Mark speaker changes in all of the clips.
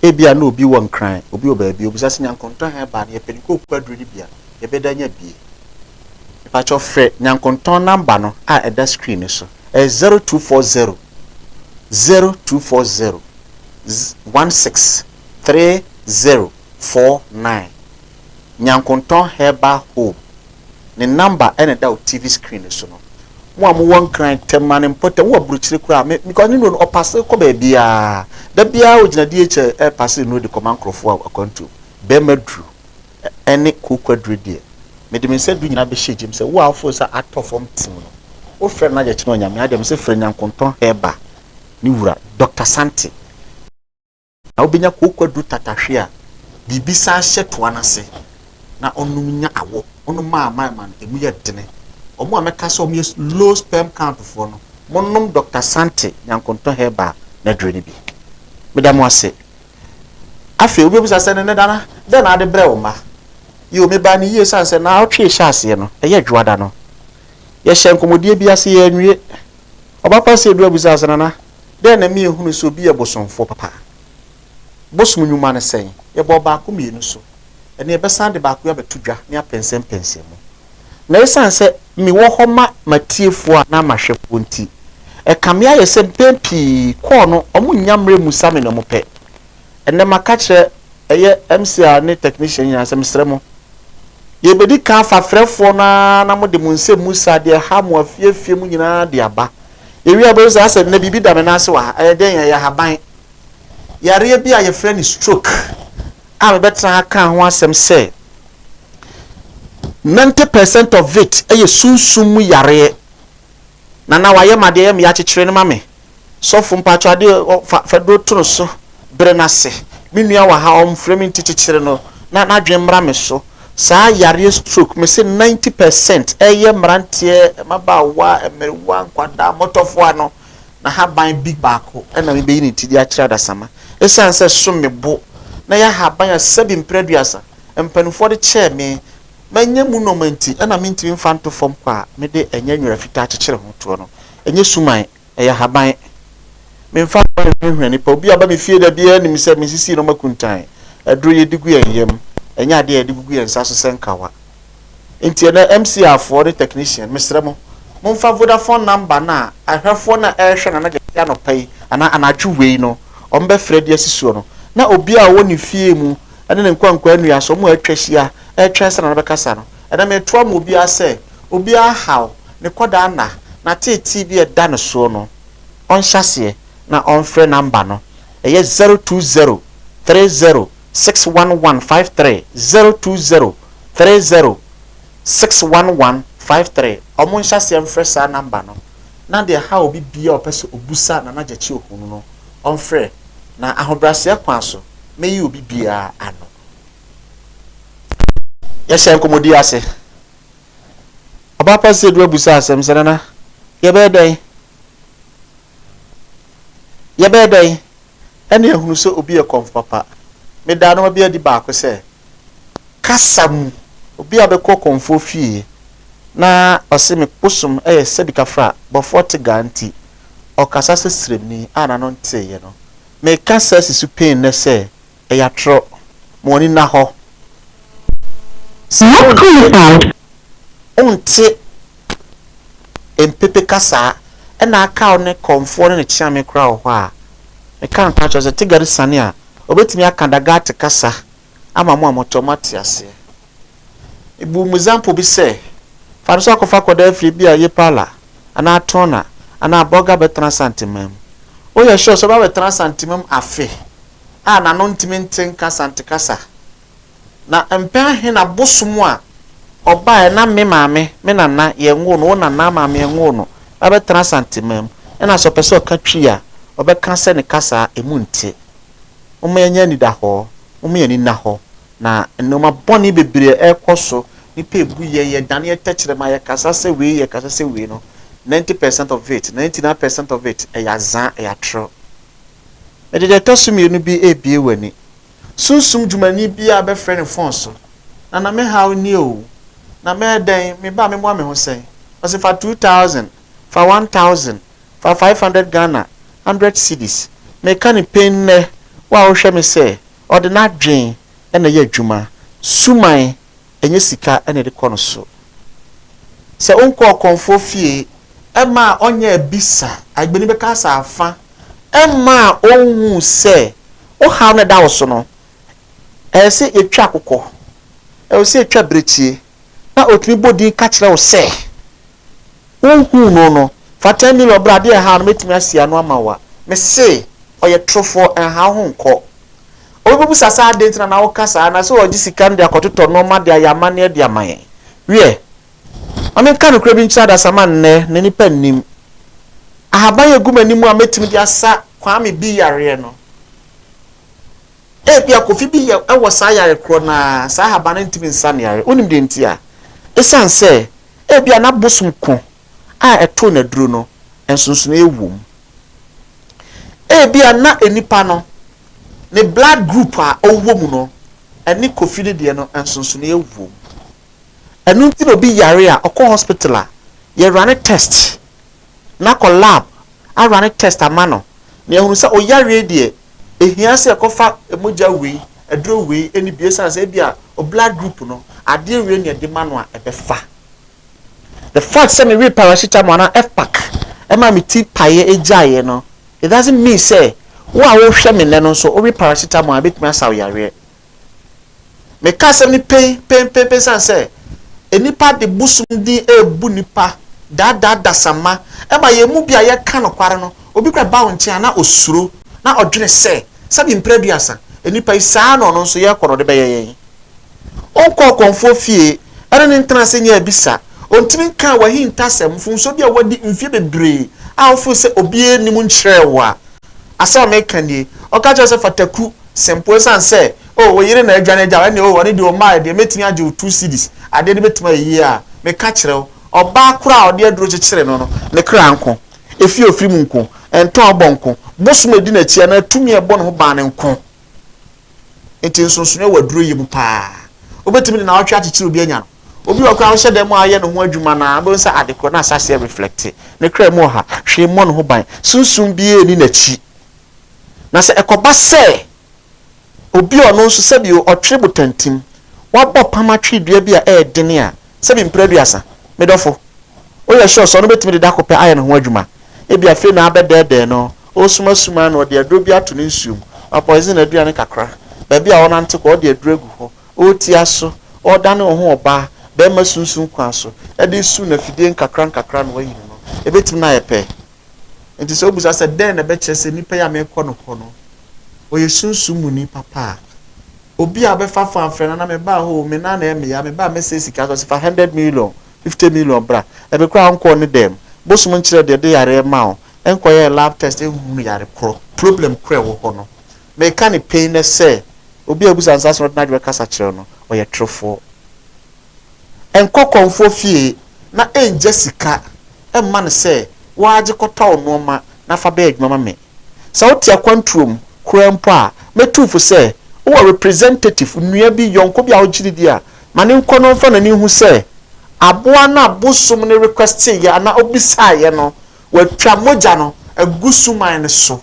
Speaker 1: Ebia na obi wɔ Nkran, obi wɔ baabi, obisa sɛ, Nyankontɔn ha ɛbaa no, yɛpɛ no kɔ Opua aduru no bia, yɛbɛda anya bie? Mepakyɛw frɛ Nyankontɔn number no a ɛda screen no so, ɛyɛ zero two four zero, zero two four zero, one six three zero four nine, Nyankontɔn Herbal Home. ne number na ɛda wo TV screen no so no. Mo a mowɔ Nkran, Tema ne mpɔtam, mowɔ Aburokyire koraa a, me, because ne nuro no ɔpase kɔ baabiara. Da biara ogyina DHL ɛrepase nuro de kɔma nkurɔfoɔ a akwantuo. Bɛrima duru ɛne kooko aduro deɛ, mede me nsa du nyinaa bɛhyɛ gyem sɛ wo a wofeel sɛ atɔ fam tim no, wofrɛ no na yɛkyerɛ onyame adeɛ. Mese frɛ Nyankontɔn Herbal ne wura, Doctor Sante. Na obenya kooko aduru tatahwe a biribi san hyɛ toa no ase na ɔnom nya awo. Ɔnom ma ama ɛma no emu yɛ dene. Wɔn a mɛka sɛ wɔyɛ low sperm count foɔ no, monom Dɔkta Sante Nyankontɔ Herbal n'aduro no bi. Meda mo ase. Afei wobɛbisa sɛ, Nene Dana, dɛn na wode brɛ wo mma? Yiw, mebaa no yie esiane sɛ naawɔtwe a ɛhyɛ aseɛ no, ɛyɛ Dwoada no. Yɛhyɛɛ nkɔmmɔdie bi ase, yɛanwie. Ɔba Kwasi Adu abisaa sɛ, Nana, Dɛn na ɛma yɛhunu sɛ obi yɛ bosomfoɔ papa? Bosom nnwuma ne sɛn? Yɛbɔɔ baako mmienu so. Ɛnnɛ yɛbɛsan de baako yi abɛto dwa ne apɛnsɛmpɛnsɛm mu. Na ɛsiane sɛ mewɔ hɔ ma m'atiefoɔ anaa m'ahwɛfoɔ nti, ɛkame ayɛ sɛ mpɛn pii kɔɔ no wɔnnya mmerɛ mmusa me nea wɔpɛ. Ɛnnɛ maka akyerɛ ɛyɛ MCR ne technician nyinaa sɛ mesrɛ mo, yɛrebɛdi kan afa frɛfoɔ no ara na mode mo nsɛmmusa, deɛ ɛha mo afie afie mu nyinaa de aba. Yɛwie a wobɛhu sɛ asɛ nnɛ biribi da me nan ase wɔ ha. Ɛyɛ dɛn? Ɛyɛ haban. Yareɛ bi a yɛfrɛ no stroke a mebɛtena ha kaa ho asɛm sɛ ninety percent of it yɛ sunsum mu yareɛ. Nana wayɛ ma deɛ ɛyɛ me ya kyekyere no ma me. Sɔfo mpakyɛw adeɛ fa fa duro to no so. brɛ no ase. Me nua wɔ ha, ɔmfrɛ me nti kyekyere no na n'adwene mmra me so. Saa yareɛ stroke, mese ninety per cent, ɛyɛ mmeranteɛ, mmabaawa, mmerewa, nkwadaa, mmɔtɔfoɔ ano. N'ahaban big baako na mebeyi ne ti de akyerɛ adasamma. Esiane sɛ so me bo na ɛyɛ ahaban a sɛbi mpere aduasa mpanimfoɔ de kyɛɛ me, manya mu nnoɔma nti na mentumi mfa nto fam kwa a mede ɛnyɛ nwera fitaa kyekyere ho toɔ no, ɛnyɛ suman. ɛyɛ ahaban. Memfa ho a ɛhwanhwan nnipa, obi a ɔba me fie da biara nim sɛ misisi nneɛma akuntan, aduro yɛde gu yɛn yam, ɛnyɛ adeɛ a yɛde gugu yɛn nsa so sɛ nkawa. Enti ɛnnɛ, MCAfoɔ ne technician, mesrɛ mo, momfa Vodafone number no a ahwɛfoɔ no a ɛrehwɛ Nana Gyasi anɔpa yi anaa anadwo wei no wɔbɛfrɛ de asi soɔ no, na obiara a ɔwɔ ne fie mu ne ne nkwankwaannuaso a wɔatwa ahyia retwɛn sɛ Nana bɛkasa no, Ɛnna metoa ma obiara sɛ obiara nhaw ne kɔdaa nna n'ateetee bi a ɛda ne soɔ no, ɔnhyɛ aseɛ na ɔmfrɛ namba no, ɛyɛ zero two zero three zero six one one five three, zero two zero three zero six one one five three, wɔn nhyɛ aseɛ mfrɛ saa namba no, na deɛ ɛhaw obi biara a ɔpɛ sɛ ɔbusa Nana Gyakye Ohunu no, ɔmfrɛ, na ahobrɛaseɛ kwan so mɛyi obi biara ano. Yɛhyɛɛ nkɔmmɔdie ase. Ɔbaa Pastor Adu abusa asɛm sɛ, Nana, yɛbɛyɛ dɛn? Yɛbɛyɛ dɛn? Ɛne ahunu sɛ obi yɛ kɔmfo papa. Medaa nneɛma bi adi baako sɛ, kasa mu, obi a bɛkɔ kɔmfoɔ fie na ɔse me bosom yɛ sɛ bitafra, bɔfoɔ tegaa nti, ɔkasa sɛ sremni a n'ano nteeɛ no. Meka saa si so pɛn nnɛ sɛ, ɛyɛ atorɔ, ma w'ani nna hɔ. Saa wonte wonte mpepe kasaa ɛna aka wo ne kɔmfoɔ ne ne kyeame koraa wɔ hɔ a, meka nokorɛ akyerɛ wo sɛ Tigari Sane a ɔbɛtumi aka Dagate kasa ama mo a motɔ moate aseɛ. Ebu mu zampo bi sɛ, Fa no sɛ wɔkɔfa kɔda afiri bi a eye paa la, anaa toner, anaa burger bɛtena Santemaa mu. Woyɛ sure sɛ wobɛba abɛtena Santemaa mu afe a n'ano ntumi nte nka Sante kasa? Na mpɛn ahe na bosom a ɔbaeɛ na me maame, me nana, yɛnwoo no, wo nana maame yɛnwoo no, na bɛtena Santemaa mu, ɛna sɛ ɔpɛ sɛ ɔka Twi a, ɔbɛka sɛ ne kasa a emu nte. Momma yɛnyɛ anidahɔɔ. Momma yɛn ani nna hɔ. Na nnoɔma bɔne bebree a ɛrekɔ so, nnipa ɛbu yɛn, yɛdaneɛ tɛkyerɛma, yɛkasa sɛ wei, yɛkasa sɛ wei no, 90 percent of it, 99 percent of it, ɛyɛ azaa, ɛyɛ atorɔ. Mede deɛ ɛtɔ so mmienu bi rebue w'ani. Sunsum dwumani biara bɛfrɛ ne fon so, Nana me haw nie oo, na mɛyɛ dɛn, me ba memoa me ho sɛn? Ɔse fa two thousand, fa one thousand, fa five hundred Ghana, hundred cedis. Meka no pain nnɛ, wo a wohwɛ me sɛ, ɔde n'adwene na ɛyɛ adwuma. Suman, ɛnyɛ sika na ɛde kɔ no so. Sɛ wonkɔ ɔkɔmfoɔ fie, ɛmma a ɔnyɛ abisa, agbeni bɛka asɛ afa, ɛmma a ɔnhu sɛ wo haw no a ɛda wo so no, ɛsɛ sɛ yɛtwa akokɔ, ɛsɛ sɛ yɛtwa birekyie, na ɔtumi bɔ din ka kyerɛ wo sɛ. Wonhuu no no, fa ten million bra adeɛ ɛha no mɛtumi asi ano ama wo a, mese ɔyɛ torofoɔ ɛnha wo ho nkɔ. Obi bɛbusa sɛ adɛn nti na na woka saa na sɛ ɔgye sika no de akɔtotɔ nnoɔma de ayɛ amanneɛ de ama yɛn. Wiɛ, ma menka nokorɛ bi nkyerɛ adasamma nnɛ na nnipa nnim. Ahaban a ɛgu m'anim a mɛtumi de asa Kwame B. yareɛ no, ebia Kofi B. wɔ saa yare korɔ no ara, saa ahaban no ntumi nsa no yareɛ. Wonim deɛ nti a? Ɛsiane sɛ Ebia na bosom ko a ɛtoo no aduru no nsonsonoe wom. Ebia na nnipa no, ne blood group a ɔwɔ mu no, ɛne Kofi no deɛ no nsonsonoe wom. Ɛno nti na obi yare a, ɔkɔ hospital a, yɛrane test na kɔ lab a rane test ama no na yɛahunu sɛ oyareɛ deɛ ɛhia sɛ yɛkɔfa mogya wei, aduro wei ɛne bi ɛsiane sɛ ebia o blood group no adeɛ wei na yɛde ma no a ɛbɛfa. The fact sɛ mewee paracetamol anaa F-pack ɛma me ti paeɛ ɛgyaeɛ no it doesn't mean sɛ wo a wohwɛ me nnɛ no nso wowe paracetamol a ɛbɛtumi asa wo yareɛ. Meka asɛm no pen, pen, pen, pen sane sɛ nnipa de bosom din rebu nnipa, daadaa adasamma. Ɛma yɛn mu bi a yɛka nokware no, obi kora ba wo nkyɛn a na osuro, na ɔdwene sɛ, sɛbi mpre aduasa, nnipa yi saa na ɔno nso yɛ kɔ na ɔde bɛyɛ yɛn. Ɔnkɔ ɔkɔmfoɔ fie, ɛne no ntena ase nyɛ abisa, ɔntumi nkaa w'ahintasɛm, mfomsoɔ bi a wadi mfeɛ bebree a wofo sɛ obiara nnim nkyerɛɛ wo a. Asɛm a meka nie, ɔka kyerɛ wo sɛ fa takuru, Sɛ mpo esiane sɛ, oh, wo yere na adwane agyaw, ɛnde, oh, ɔno deɛ ɔmmaeɛ deɛ, mɛtumi agye wo two cedis, adeɛ no bɛtumi ayɛ yie a, meka kyerɛ wo, ɔbaa korɔ a ɔde aduro kyekyere no no, ne kra nko, efi a ɔfiri mu nko, ntɔɔbɔ nko, bosom a ɛdi n'akyi anaa tumi a ɛbɔ ne ho ban no nko. Enti nsonsonoeɛ wɔ aduruyɛ mu pa ara. Wobɛtumi de nnawɔtwe akyekyere obi anya no. Obi wɔ hɔ koraa a, wohyɛ dan mu a ɔyɛ ne ho adwuma no ara, wobɛhu sɛ ade korɔ no ahyɛ aseɛ reflecte ne kra mu ɔha, hwee mmɔ ne ho ban, sunsum biara nni n'akyi. Na sɛ ɛkɔba sɛ obi a ɔno nso sɛbi ɔtwere botantim, wabɔ pam atwere dua bi a ɛyɛ den a, sɛbi mpire aduasa, me dɔfo, woyɛ sure sɛ ɔno betumi de da koro pɛ ayɛ ne ho adwuma? Ebia afei na abɛdɛɛdɛɛ no, ɔresumasuma ara na ɔde aduro bi ato ne nsuo mu, wapoison adua no kakra, baabi a ɔrenante kɔ, ɔde aduro agu hɔ, ɔretia so, ɔredane ne ho ɔbaa barima sunsum kwan so de resu no afidie nkakrankakra na wayi ne no. Ebetumi na ayɛ pɛ. Enti sɛ wobisa sɛ dɛn na ɛbɛkyerɛ sɛ nipa yi a merekɔ no hɔ no, ɔyɛ sunsum muni papa a, obi a ɔbɛfa fon afrɛ no, na mebaa hɔ o, me nan na ɛyɛ me ya, mebaa a mɛsɛe sika nso, ɔse fa hundred million, fifty million bra. Ɛbi koraa a ɔnkɔɔ ne dɛm. Bosom nkyerɛ deɛ ɛde yareɛ ma wo, ɛnkɔyɛɛ lab test ɛnhunu yare korɔ. Problem korɔ a ɛwɔ hɔ no, meka no pɛn nɛ sɛ, obi a wobisa no saa asɛm no, wode n'adwene kasa kyerɛ no, ɔyɛ torofoɔ. Nkɔ kɔmfoɔ fie na ɛnngya sika mma no sɛ wo ara gye kɔtɔ wo nnoɔma na fa bɛyɛ adwuma ma me. Sɛ wote akwantuo mu koraa mpo a, mɛtu wo fo sɛ wowɔ representative, nua bi, yɔnko bi a wogye no di a, ma no nkɔ na ɔmfa n'ani nhu sɛ aboa no a bosom no requesteeɛ anaa ɔbisaeɛ no, watwa mogya no agu suman no so.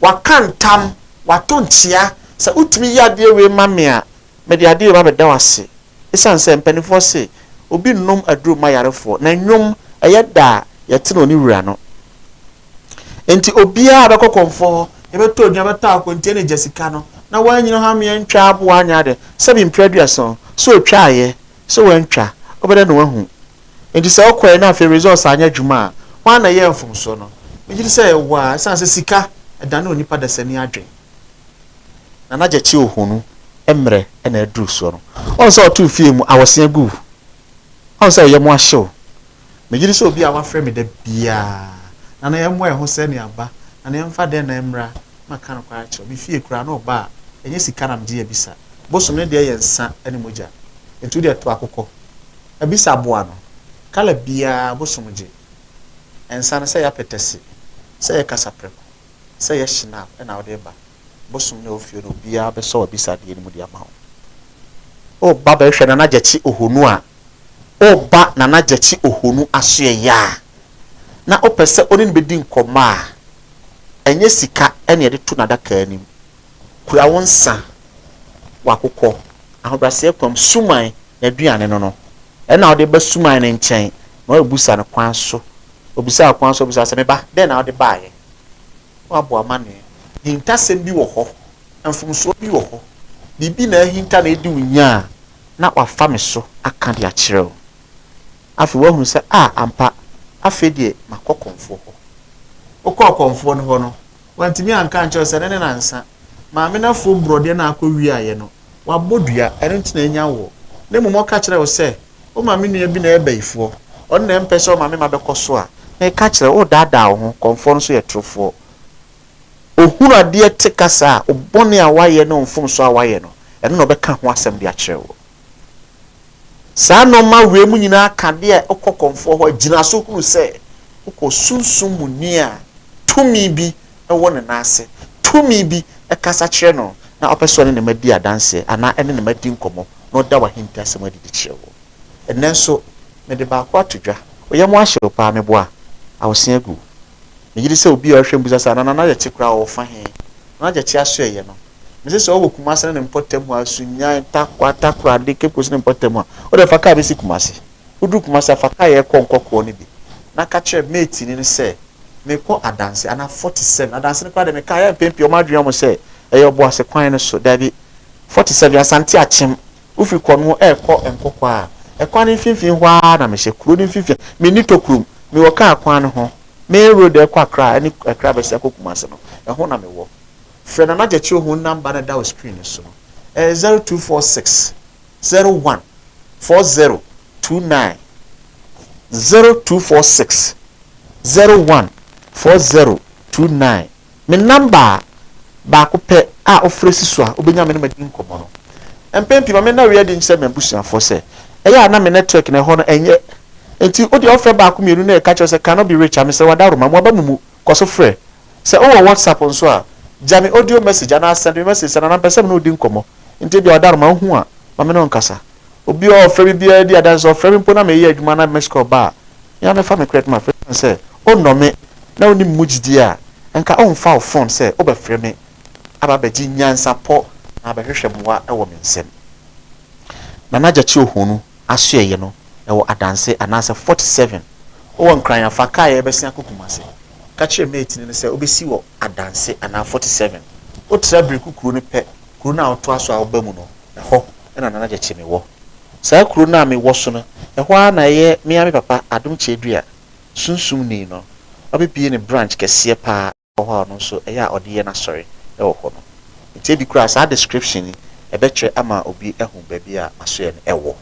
Speaker 1: Waka ntam, wato nkyea, sɛ wotumi yɛ adeɛ wei ma me a, Mede adeɛ reba abɛda wo ase ɛsiane sɛ mpanimfoɔ se obi nnom aduro mma ayarefoɔ na nnwom ɛyɛ da a yɛte no ne wura no nti obiara a bɛkɔ kɔmfoɔ hɔ yɛbɛtɔ aduane bɛtɔ akwantie ne gya sika no na wanyini hɔ ameɛ ntwa aboa anyɛ adeɛ sɛbi mprɛ aduason sɛ ɔtwaeɛ sɛ wantwa wobɛda na wahu nti sɛ wokɔɛ na afei results anyɛ adwuma a hwan na ɛyɛɛ mfomsoɔ no megye di sɛ ɛwɔ a ɛsiane sɛ sika ɛdane onipa dasani adwene. Nana Gyekye Ohonu mmerɛ na aduru soɔ no. Ɔhu sɛ ɔtoo fie mu awɔsea gu wo. Ɔhu sɛ wo yam ahye wo. Megye di sɛ obi a wafrɛ me da biara. Nana yɛmmɔ yɛn ho sɛ ne aba. Nana yɛmfa dɛn na ɛmmra. Maka nokorɛ akyerɛ wo. Me fie koraa no ɔba a, ɛnyɛ sika na megye abisa. Bosom no deɛ yɛ nsa ne mogya. Enti wo deɛ to akokɔ. Abisa aboa no. Kala biara Bosom gye. Nsa no sɛ yɛapɛtɛse. Sɛ yɛkasa prɛko. sɛ ɛyɛ shinap na wode reba bosom no a ɛwɔ fie no obiara bɛsɔ w'abisadeɛ no mu de ama wo. Woreba bɛhwɛ Nana Gyakye Ohonu a, woreba Nana Gyakye Ohonu asoɛeɛ a, na wopɛ sɛ wo ne no bɛdi nkɔmmɔ a, ɛnyɛ sika na yɛde to n'adaka anim. Kura wo nsa, w'akokɔ, ahobrɛaseɛ kwa mu, Suman n'aduane no no, ɛna wode ba Suman no nkyɛn ma wabusa no kwan so, obisa wo kwan so, obisa wo sɛ, Me ba, dɛn na wode baeɛ? Woabɔ amanneɛ. Hintasɛm bi wɔ hɔ. Mfomsoɔ bi wɔ hɔ. Biribi na ahinta na adi wo nya a na wafa me so aka de akyerɛ wo. Afei woahunu sɛ, a, ampa, afei deɛ makɔ ɔkɔmfoɔ hɔ. Wokɔɔ ɔkɔmfoɔ no hɔ no, wantumi anka ankyerɛ wo sɛ ɛnnɛ ne nnansa. Maame no afuom borɔdeɛ no a akɔwiaeɛ no, wabɔ dua, ɛno nti na anya woɔ. Na mmom ɔka kyerɛɛ wo sɛ, O ma me nua bi na ɛyɛ bayifoɔ, ɔno na ɛmpɛ sɛ ɔma me mma bɛkɔ so a, meka kyerɛ wo, woredaadaa wo ho, kɔmfoɔ no nso yɛ torofoɔ. Ɔhunu adeɛ te kasa a, wo bɔne a woayɛ ne wo mfomsoɔ a woayɛ no, ɛno na ɔbɛka ho asɛm de akyerɛ woɔ. Saa nnoɔma wei mu nyinaa ka adeɛ a wokɔ kɔmfoɔ hɔ a, gyina so hunu sɛ wokɔ sunsum mu ni a tumi bi wɔ ne nan ase, tumi bi kasa kyerɛ no na ɔpɛ sɛ ɔne ne mma di adanseɛ anaa ɛne ne mma di nkɔmmɔ. na ɔda w'ahintasɛm adi de kyerɛ woɔ. Ɛnnɛ nso, mede baako ato dwa. Wo yam ahye wo paa, me bo a awo se agu. Me gyedi sɛ obi a ɔhwɛ mbisa sɛ Anana no ayɛ kye koraa ɔwɔ fa he? Na n'agya kye aso ɛyɛ no. Me se sɛ ɔwɔ Kumase ne ne mpɔtam hɔ a, Sunyani, Tarkwa, Takoradi, Cape Coast ne mpɔtam a, wo deɛ fa kaa besi Kumase. Wodu Kumasi a fa kaeɛ kɔ nkɔkɔɔ no bi na ka kyerɛ mate ni no sɛ merekɔ adanse anaa forty seven adanse no koraa deɛ mekae a mpɛn pii wɔn adwene yɛ wɔn sɛ ɛyɛ ɔboase kwan no so daabi forty seven asante akyem wofiri kɔno ɛrekɔ nkɔkɔɔ a ɛkwan no mfimfini hɔ ara na mehyɛ kuro no mfimfini menni tokurom mewɔ kaa kwan no ho main road a ɛkɔ akra ɛne akra bɛsi akɔ kumase no ɛho na mewɔ frɛ nana gyakye ohun number no ɛda wo screen no so no ɛyɛ zero two four six zero one four zero two nine zero two four six zero one four zero two nine me namba baako pɛ a wofrɛ si so a wobɛnya me ne madi nkɔmmɔ no. Mpɛn pii ma me na wei adi nkyerɛ m'abusuafoɔ sɛ ɛyɛ a na me network no ɛhɔ no ɛnyɛ nti wodeɛ wofrɛ baako mmienu na ɛka kyerɛ sɛ cannot be reached a mesrɛ w'adaworoma mmoaba mo mu kɔ so frɛ Sɛ wowɔ WhatsApp nso a, gya me audio message anaa sɛnd me message sɛ Nana mepɛ sɛ me ne wo di nkɔmmɔ. Nti ebia ɔda no ma ohu a, ma me ne wo nkasa. Obi a ɔfrɛ me biara di adanse sɛ ɔfrɛ me mpo na mereyɛ adwuma na missed call ba a, me ara mɛfa me kra de ma afei esiane sɛ onnɔ me na wonni me mu gyidie a, nka womfa wo fon sɛ wobɛfrɛ me aba abɛgye nyansapɔ anaa abɛhwehwɛ mmoa wɔ me nsam. Nana Gyakye Ohonu. asoɛeɛ no wɔ adanse anaasɛ 47. Wowɔ Nkran a, fa kaa a yɛrebɛsen akɔ Kumasi. Ka kyerɛ mate no sɛ wobɛsi wɔ adanse anaa 47. Wotra Biriku kuro no pɛ, kuro no a wotoa so a woba mu no, ɛhɔ na Nana Gyekyeame wɔ. Saa kuro no a mewɔ so no, ɛhɔ ara na ɛyɛ me ara me papa Adom Kyedua, Sunsumni no, wabɛbue ne branch kɛseɛ pa ara. Hɔ a ɔno nso ɛyɛ a ɔde yɛ n'asɔre wɔ hɔ no. Nti ebi koraa saa description yi ɛbɛkyerɛ ama obi ahu baabi a asoɛɛ no ɛwɔ.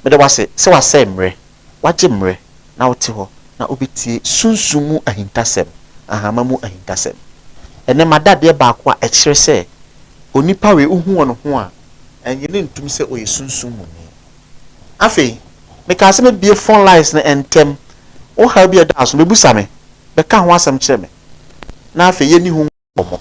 Speaker 1: Meda wo ase sɛ wasɛe mmerɛ, wagye mmerɛ na wote hɔ na wobɛtie sunsum mu ahintasɛm, ahama mu ahintasɛm. Ɛnnɛ mada adeɛ baako a ɛkyerɛ sɛ onipa wei wohu wɔ ne ho a, ɛnnye no ntom sɛ ɔyɛ sunsum muni. Afei, mekaa sɛ mɛbue fon lines no ntɛm. Wo haw bi a ɛda so no, bɛbusa me. Bɛka ho asɛm kyerɛ me. Na afei yɛnni ho nkɔmmɔ.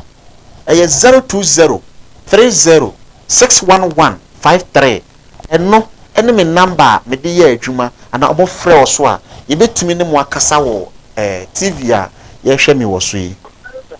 Speaker 1: Ɛyɛ zero two zero three zero six one one five three. Ɛno ne me namba a mede yɛ adwuma anaa wɔfrɛ wɔ so a, yɛbɛtumi ne mo akasa wɔ TV a yɛhwɛ me wɔ so yi.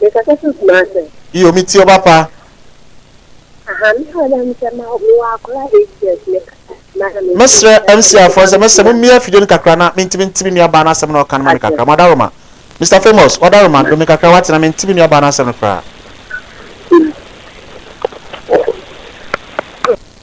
Speaker 2: Me kasa fi Kumasi. Iyo me tie wo papa.
Speaker 1: Aha
Speaker 2: me wɔ dɛ mesɛ ma me wɔ akora eight years me
Speaker 1: kasa ma na me Me srɛ MC afoɔ nsɛ mesɛ mo mia fidie no kakra na me ntimi nte me nua baa no asɛm na ɔka no ma me kakra mo adaroma Mister famous wo adaroma do me kakra wate na me nte me nua baa no asɛm no koraa.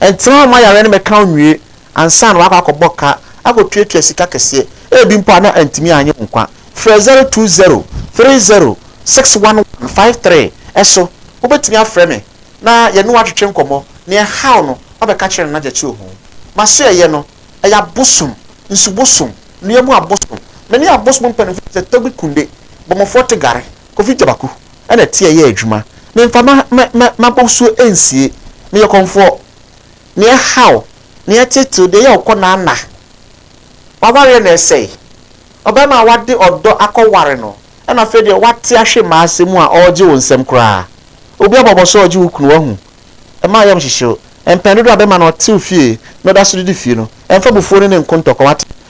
Speaker 1: Ɛntena hɔ mma yareɛ no mmɛka wo nwie ansa na woakɔ akɔbɔ ka akɔtuatua sika kɛseɛ, ebi mpo a na antumi annye wo nkwa. Frɛ 020 30 611 53 so. Wobɛtumi afrɛ me na yɛne wo atwetwe nkɔmmɔ. Nea ɛhaw no, wabɛka kyerɛ nanagyakye oho. M'asoɛeɛ no, ɛyɛ abosom, nsu bosom, nnua mu abosom. Me ne abosom mpanimfoɔ te sɛ Tobi Kunde, Bɔmmɔfoɔ Tegare, Kofi Gyabaku. na ɛte ɛyɛ adwuma. Memfa ma ma ma m'abɔsuo nsie. Meyɛ ɔkɔmfoɔ. Nea ɛha wo, nea ɛtete wo, deɛ ɛyɛ wo kɔ na na. W'awareɛ na ɛsɛe. Ɔbarima a w'ade ɔdɔ akɔ ware no na afei deɛ w'ate ahwe mmaa asɛm mu a ɔregye wo nsɛm koraa. Obi abɔ abɔso a ɔregye wo kunu w'ahu. Ɛma ayam hyehye wo. Mpɛn dodoɔ a bɛrima no ɔte wo fie na ɔda so didi fie no, ɛmfa abufuo ne ne nko ntɔkwa w'ate.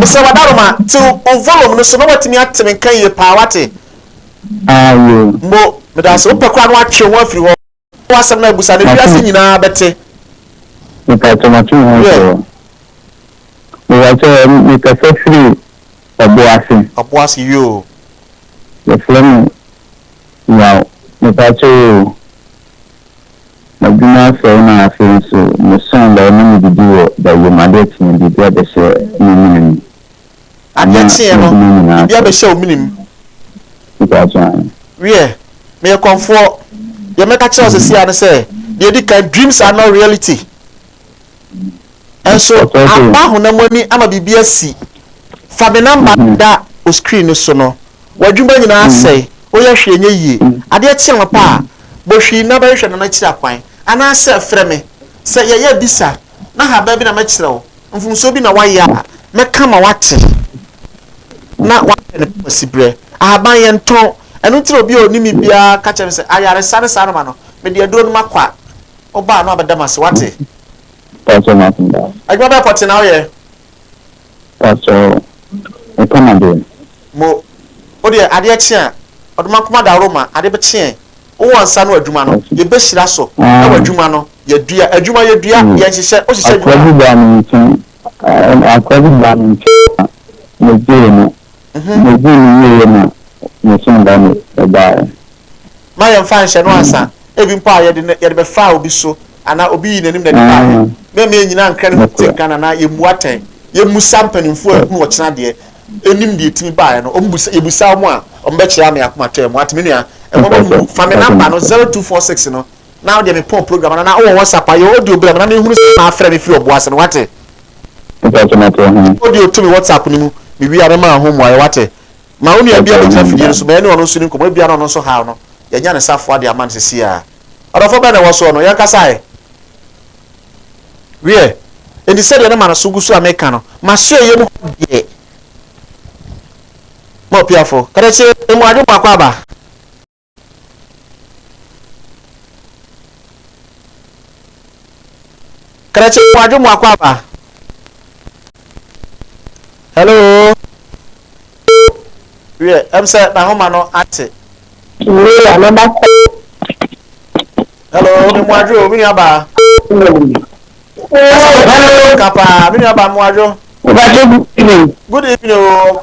Speaker 1: Mesrɛ w'adaroma, tew wo volume no so na woatumi ate me nka yie paa, woate? Mbo, meda ase, wopɛ koraa na woatwe wo ho afiri hɔ na w'asɛm no abu saa na wiase nyinaa bɛte. Mepaatɔ matwe me ho afiri hɔ. Mepaatɔ mekasa firi Ɔboase. Ɔboase yoo. Yɛfrɛ me Yaw. Mepaatɔ oo. M'adwuma asɛe na afei nso mesɔn da a ɛma mididi wɔ da yam. Ade kyeɛ no, biribi abɛhyɛ me mene mu. Adeɛ kyeɛ no, biribi abɛhyɛ wo mene mu. Mepakyɛ ahe? Wiɛ, meyɛ kɔmfoɔ. Deɛ mɛka kyerɛ wo seesei ara ne sɛ, deɛ ɛdi kan, dreams are not reality. Nso aba honam ani ama biribi asi. Fa me namba no da wo screen no so no. W'adwuma nyinaa asɛe, woyɛ hwee nyɛ yie. Adeɛ kye anɔpa a, bɔ hwii na bɛhwehwɛ Nana akyiri akwan. Anaasɛ frɛ me. Sɛ yɛyɛ abisa na ahaban bi na mɛkyerɛ wo, mfomsoɔ bi na woayɛ a, mɛka ma woate na woahwɛ ne papa siberɛ. Ahaban yɛntɔn. Ɛno nti na obi a ɔnim me biara ka kyerɛ me sɛ ayaresa ne saa na ma no, mede aduro no makɔ a, Woba a na wabɛda m'ase, wate? Pastor Makumba. Adwuma bɛɛ pɔte na woyɛ? Pastor, mepam adeɛ. Mo, wo deɛ adeɛ kye a, ɔde m'akoma daworo ma adeɛ bɛkye yɛn. Wowɔ nsa no adwuma no, yɛbɛhyira so, na w'adwuma no, yɛadua. Adwuma, yɛdua, yɛnhyehyɛ, wohyehyɛ adwuma a. Akoa bi baa me nkyɛn. Ɛnna akoa bi baa me nkyɛn na migyee no. Migyee no wieeɛ na me somda no baeɛ. Mma yɛmfa nhyɛ no ansa, ebi mpo a yɛde no yɛde bɛfaa obi so anaa obi yii n'anim na ɛde baeɛ. Me a meyɛ nyinaa nkrɛ no ho te nka no anaa yɛmmu atɛn. Yɛmmisa mpanimfoɔ a ɛhunu ɔkyena deɛ ɛnim deɛ ɛtumi baeɛ no. Wɔbisa yɛbisa wɔn a, wɔbɛkyerɛ ama yɛakoma atɔ yɛn. Moate me nua? Mmɔbɔ mmu. Fa me namba no, zero two four six no. na wodeɛ me pon program no na wowɔ whatsapp a yɛ audio brɛ me na me hunu sɛ na afrɛ me firi ɔboase no wate audio to me whatsapp no mu me wie a me maa ho mmuaeɛ wate ma wo nua bi a bɛgyina fidie no so ma ɛne ɔno nso ne nkɔmɔ ebia na ɔno nso haw no yɛnya ne safoa de ama no sisi a ɔdɔfo bɛn na ɛwɔ soɔ no yɛn kasa ɛ wiɛ enti sɛdeɛ ne ma no so gu so a meka no ma so ɛyɛ mu hɔ deɛ ma opiafo kɛdɛkye mu adwo mu akɔ aba krakye mu adwo mu akɔ aba hello wiɛ ɛm sɛ n'ahoma no ate wura no bakɔ hello me mu adwo me nua baa kasa me nua baa mu adwo good evening o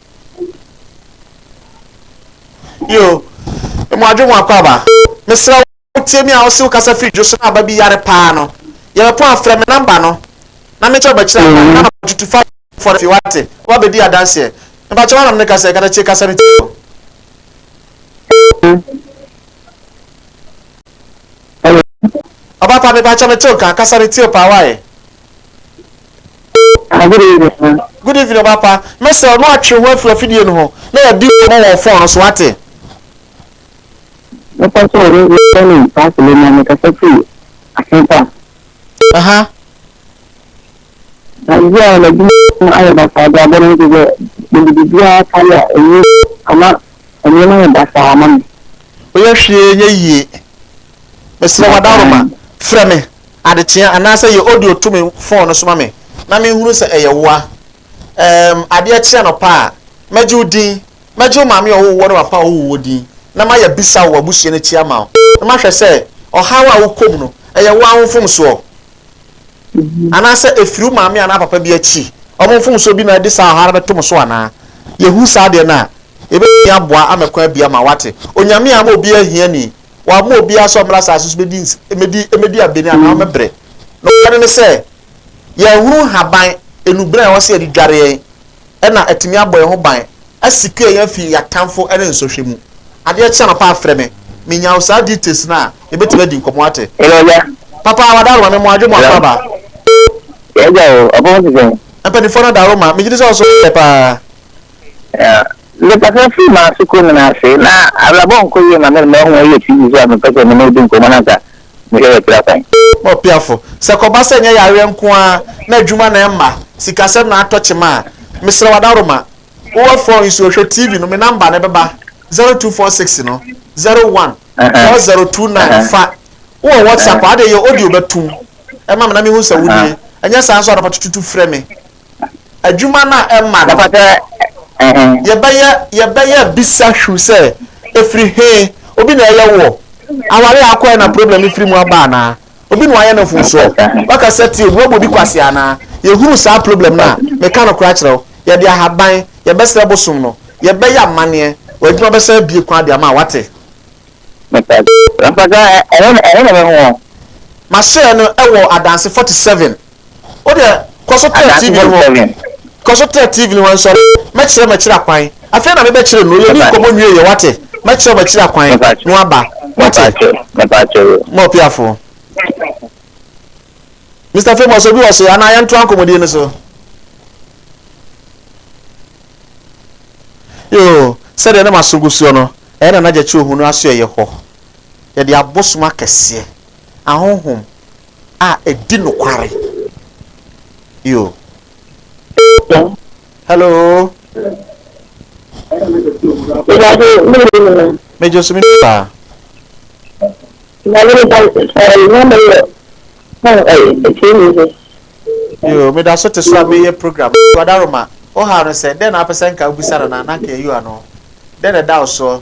Speaker 1: Yo, emu adwe mu akwaaba. Mesrɛ wo wotie me a wose wokasa firi dwo so na aba bi yare paa no, yɛbɛpɔn a frɛ me number no na menkyɛ wobɛkyerɛ kwan na ma tutu fa foforɔ no fie wate, woba bɛdi adanseɛ. Mepakyɛ woana mene kasa yi kata tie kasa no tie o. Ɔba pa mepakyɛ mete wo nka, kasa no tie o paa why? Good evening ɔbapa mɛsrɛ no atwe ho afiri afidie no ho na yɛdi nkɔmɔ wɔ fon no so wate.
Speaker 3: Mɛpa sɛ ɔno yɛ ne paasele na mekasa firi asepa. Aha. Ɛyɛ a n'adwuma ayɛ basaa de abɔ no nso sɛ mede biribiara ka yɛ a ɛnyɛ ama nneɛma yɛ basaa ama me. Woyɛ hwee
Speaker 1: nyɛ yie. Mesrɛ w'adaworoma frɛ me Adekyeɛ anaasɛ yɛ audio to me phone no so ma me na menhunu sɛ ɛyɛ woa Erm adeɛ kye anɔpa a mɛgye wo din Mɛgye wo maame a ɔwoo woɔ ne w'apa a ɔwoo woɔ din Na mayɛ abisa wɔ w'abusua no akyi ama wo Na mahwɛ sɛ ɔhaw a wokɔ mu no ɛyɛ woa wo mfomsoɔ Anaasɛ ɛfiri wo maame anaa papa bi akyi Wɔn mfomsoɔ bi na ɛde saa ɔhaw no bɛto mo so anaa Yɛhu saa deɛ no a yɛbɛtumi aboa ama kwan abue ama wo wate Onyame amma obiara ahiani wɔamma obiara sɛ ɔmmra asase so bɛdi ns mmɛdi mmɛdi abɛni anaa ɔmmɛbrɛ. Nokware ne sɛ, yɛnhunu nhaban, nnubɛn a ɛwɔ sɛ yɛde dware yɛn, ɛna atumi abɔ yɛn ho ban, asecure yɛn afi yɛn atamfo ne nsɔhwɛ mu. Adeɛ kye anɔpa a, frɛ me. Menya wo saa details no a, yɛbɛtumi adi nkɔmmɔ, woate? Hello, Agya. Papa, Wadaroma, me mmoa, Adwomoa Hello. Kwaba. Agya
Speaker 3: o, ɔbɔn te sɛn? Mpanimfoɔ no Adaroma,
Speaker 1: megye di sɛ wo nso woyɛ paa.
Speaker 3: Mekasa firi m'asoko nyinaa ase, na abrabɔ nkɔ yie ma me mma ɔho ɛyɛ TV so a mepɛ sɛ me ne wo di nkɔmmɔ na anka mehwɛ yɛ tra kwan. Ɔpiafo,
Speaker 1: Sɛ ɛkɔba sɛ ɛnyɛ yareɛ nko ara na adwuma na ɛmma, sikasɛm na atɔ kyema a, mesrɛ wo adaworoma, wowɔ fon yi so hwɛ TV no, me namba no ɛbɛba, zero two four six no, zero one four zero two nine fa, wowɔ WhatsApp a, ade ɛyɛ audio bɛtom ma me na mehu sɛ wonie, ɛnyɛ saa nso a anɔpa tututu frɛ me adwuma no a ɛmma no, yɛbɛyɛ yɛbɛyɛ bisa hwiw sɛ, Ɛfiri he? Obi na ɛyɛ woɔ? Aware a akɔɛ na problem no firi mu aba anaa? Obi na wayɛ no mfomsoɔ? Waka sɛ tie, obi abu obi kwasea anaa? Yɛhunu saa problem no a, meka nokorɛ akyerɛ wo, yɛde ahaban, yɛbɛsrɛ bosom no, yɛbɛyɛ amanneɛ, w'adwuma bɛsan abue kwan de ama wo. Woate? Mahyɛɛ no wɔ adanse 47. wo deɛ kɔ so tɛ tv no hɔ kɔ so tɛ tv no hɔ nsɔre mɛkyerɛ mɛkyerɛ akwan afei na mebɛkyerɛ no yɛni nkɔmmɔ nwie yɛ wate mɛkyerɛ mɛkyerɛ akwan na waba wate ma ɔpiafoɔ mr famous obi wɔ se anaa yɛntoa nkɔmmɔdie no so yoo sɛdeɛ na maso gu soɔ no ɛyɛ na nagyakye ohunu aso ɛyɛ hɔ yɛde abosom akɛseɛ ahonhom a ɛdi nokware. Yo. Hello. Mejo so me paa. Yo, meda so te so a meyɛ program. Wadaroma, o ha no sɛ, dɛn na apɛ sɛ nka wobisa no na nanka ɛyi ano. Dɛn na ɛda wo soɔ?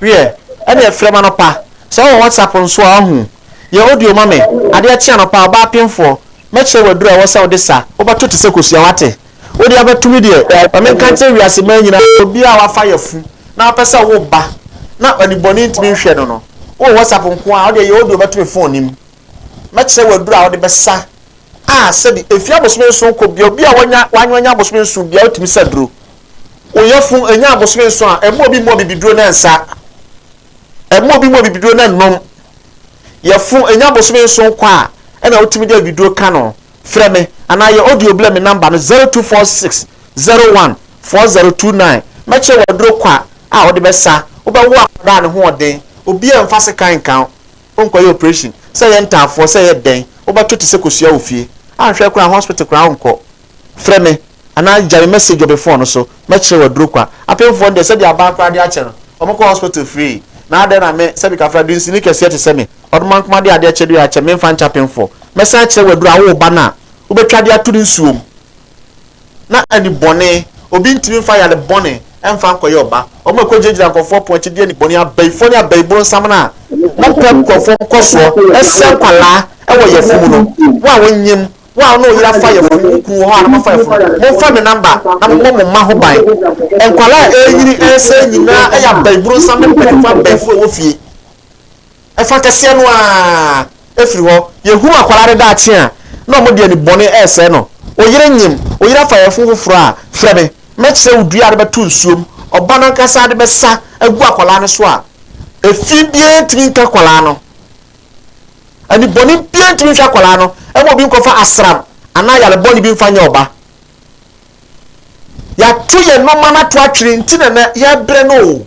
Speaker 1: Wiɛ, ɛneɛ frɛ me anɔpa, sɛ wowɔ WhatsApp nso a ɔho, yɛ audio ma me, adeɛ kye anɔpa, ɔbaa penfoɔ, mɛkyerɛ wo aduro a ɛwɔ sɛ wode sa, wobɛto te sɛ kosua, wate? Wode abɛto me deɛ, ma me nka nkyerɛ wiase mmaa nyinaa sɛ obiara a wafa yafu na ɔpɛ sɛ ɔwo ba na anibɔne ntumi nhwɛ no no, wowɔ WhatsApp nko ara a, wodeɛ yɛ audio bɛto me phone no mu. Mɛkyerɛ wo aduru a wode bɛsa a sɛde efi abosome nson kɔ bia obi a wanya wanyo anya abosome nson bia otumi sa duro. Wo yɛfo enya abosome nson a ɛmma obi mmɔ abibiduro na nsa. Ɛmma obi mmɔ abibiduro na nnom. Yɛfo enya abosome nson kɔ a ɛna wotumi de abibiduro ka no. Frɛ me anaa yɛ audio blɛ me number no 0246 01 4029 mɛkyerɛ wo aduro kwa a wode bɛsa wobɛwo akwadaa a ne ho ɔden. Obiaa mfa sekan nka wo. wonkɔyɛ operation, sɛ ɛyɛ ntaafoɔ, sɛ ɛyɛ dɛn, wobɛto te sɛ kosua wɔ fie. Anhwɛ koraa hospital koraa wonkɔ. Frɛ me anaa gya me message wɔ me phone no so, mɛkyerɛ wo aduro kwa. Apemfoɔ no deɛ, sɛdeɛ abaa koraa de akyɛ no, wɔkɔ hospital free. Na adɛn na me, sɛbi kafra, dunsini kɛseɛ te sɛ me, ɔdomankoma de adeɛ kyɛ de akyɛ, memfa nkyɛ apemfoɔ? Mɛsan akyerɛ wo aduro a, woo ba no a, wobɛtwa de ato ne nsuo mu. na ɛne bɔne. Obi ntumi mfa yare bɔne mfa nkɔyɛ ɔba. Wɔn a ɛkɔgyinagyina nkurɔfoɔ pono akyi de anibɔne, abayifoɔ ne abayibunsam no a wɔmpɛ nkurɔfoɔ nkɔsoɔ, sɛ nkwadaa wɔ yafunu no. Wo a wonnyem, wo a wo ne wo yere afa yafunu, wo kunu wɔ hɔ a na moafa yafunu, momfa me namba na mommɔ mo mma ho ban. Nkwadaa a ɛrenyini, ɛresɛe nyinaa yɛ abayibunsam ne mpanimfoɔ abayifoɔ a ɛwɔ fie. Ɛfã kɛseɛ no ara firi hɔ. Yɛhunu akwadaa no daakye a, na wɔde anibɔne resɛe no. Wo yere nyem, wo yere afa yafunu foforɔ a, frɛ me. Mɛkyerɛ wo dua a wode bɛto nsuo mu, ɔba no ankasa de bɛsa agu akwadaa no so a, efi biara ntumi nka akwadaa no. Anibɔne biara ntumi nhwɛ akwadaa no ma obi nkɔfa asram anaa yare bɔne bi mfa nyɛ ɔba. Yɛato yɛn nnoɔma no ato atwene nti na na yɛbrɛ no o.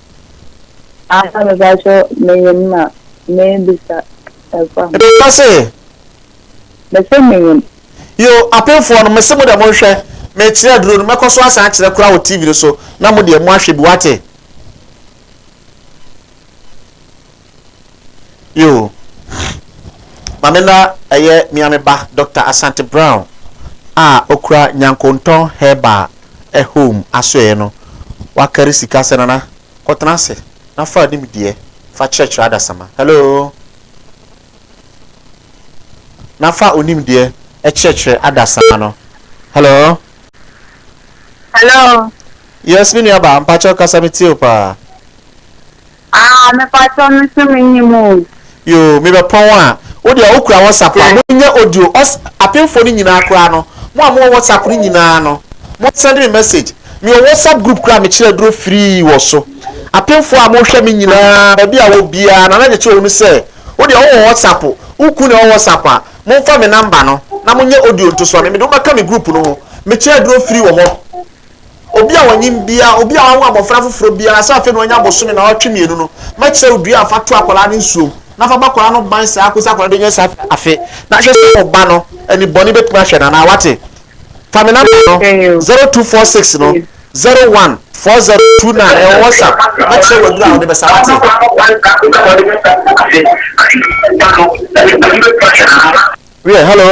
Speaker 3: Ansa mebakyɛ menyim na mebisa ɛkwa ho. Ka se. Mese menyim. Yo apenfoɔ
Speaker 1: no mese mo dɛ monhwɛ mekyerɛ aduro no mɛkɔ so asan akyerɛ koraa wɔ TV no so na mo deɛ mo ahwɛ bi wate. Yo. Mame na ɛyɛ mea me ba Doctor Asante Brown a okura Nyankontɔn Herbal ɛ home asoɛɛ no wakari sika sɛ Nana kɔ tena ase na fa nim deɛ fa kyerɛkyerɛ adasama hello na fa onim deɛ ɛkyerɛkyerɛ adasama no hello hello yes me nua ba mpakyɛw kasa me tie wo paa.
Speaker 3: Aah mepakyɛw me nso me nim o. Yoo me bɛpɔn
Speaker 1: a. Wo deɛ wo kura WhatsApp a mo nyɛ audio ɔs apemfoɔ no nyinaa koraa no mo a mo wɔ WhatsApp no nyinaa no mo send me message me wɔ WhatsApp group koraa a me kyerɛ aduro free wɔ so apemfoɔ a mo hwɛ me nyinaa baabi a wɔ biara Nana de kyerɛ wɔn sɛ wo deɛ wo wɔ WhatsApp wo kun na ɛwɔ WhatsApp a mo nfa me number no na mo nyɛ audio nto so ma me me de wo bɛka me group no ho me kyerɛ aduro free wɔ hɔ. Obi a ɔnyim biara, obi a ɔannwo abofra fofor biara sɛ afei na ɔanya bosome naawɔtwe mmienu no, mɛkyerɛ wo dua a fa to akwadaa no nsuo mu, na fa bɔ akwadaa no ban saa ara kɔsi akwadaa no bɛnya saa afe, na hwɛ sɛ wo ba no ani bɔne bɛtumi ahwɛ no anaa. Woate? Fa me namba no, 0246 no 01 4029, ɛwɔ WhatsApp, mɛkyerɛ wo aduro a wode bɛsa. Woate? Wiɛ, hello.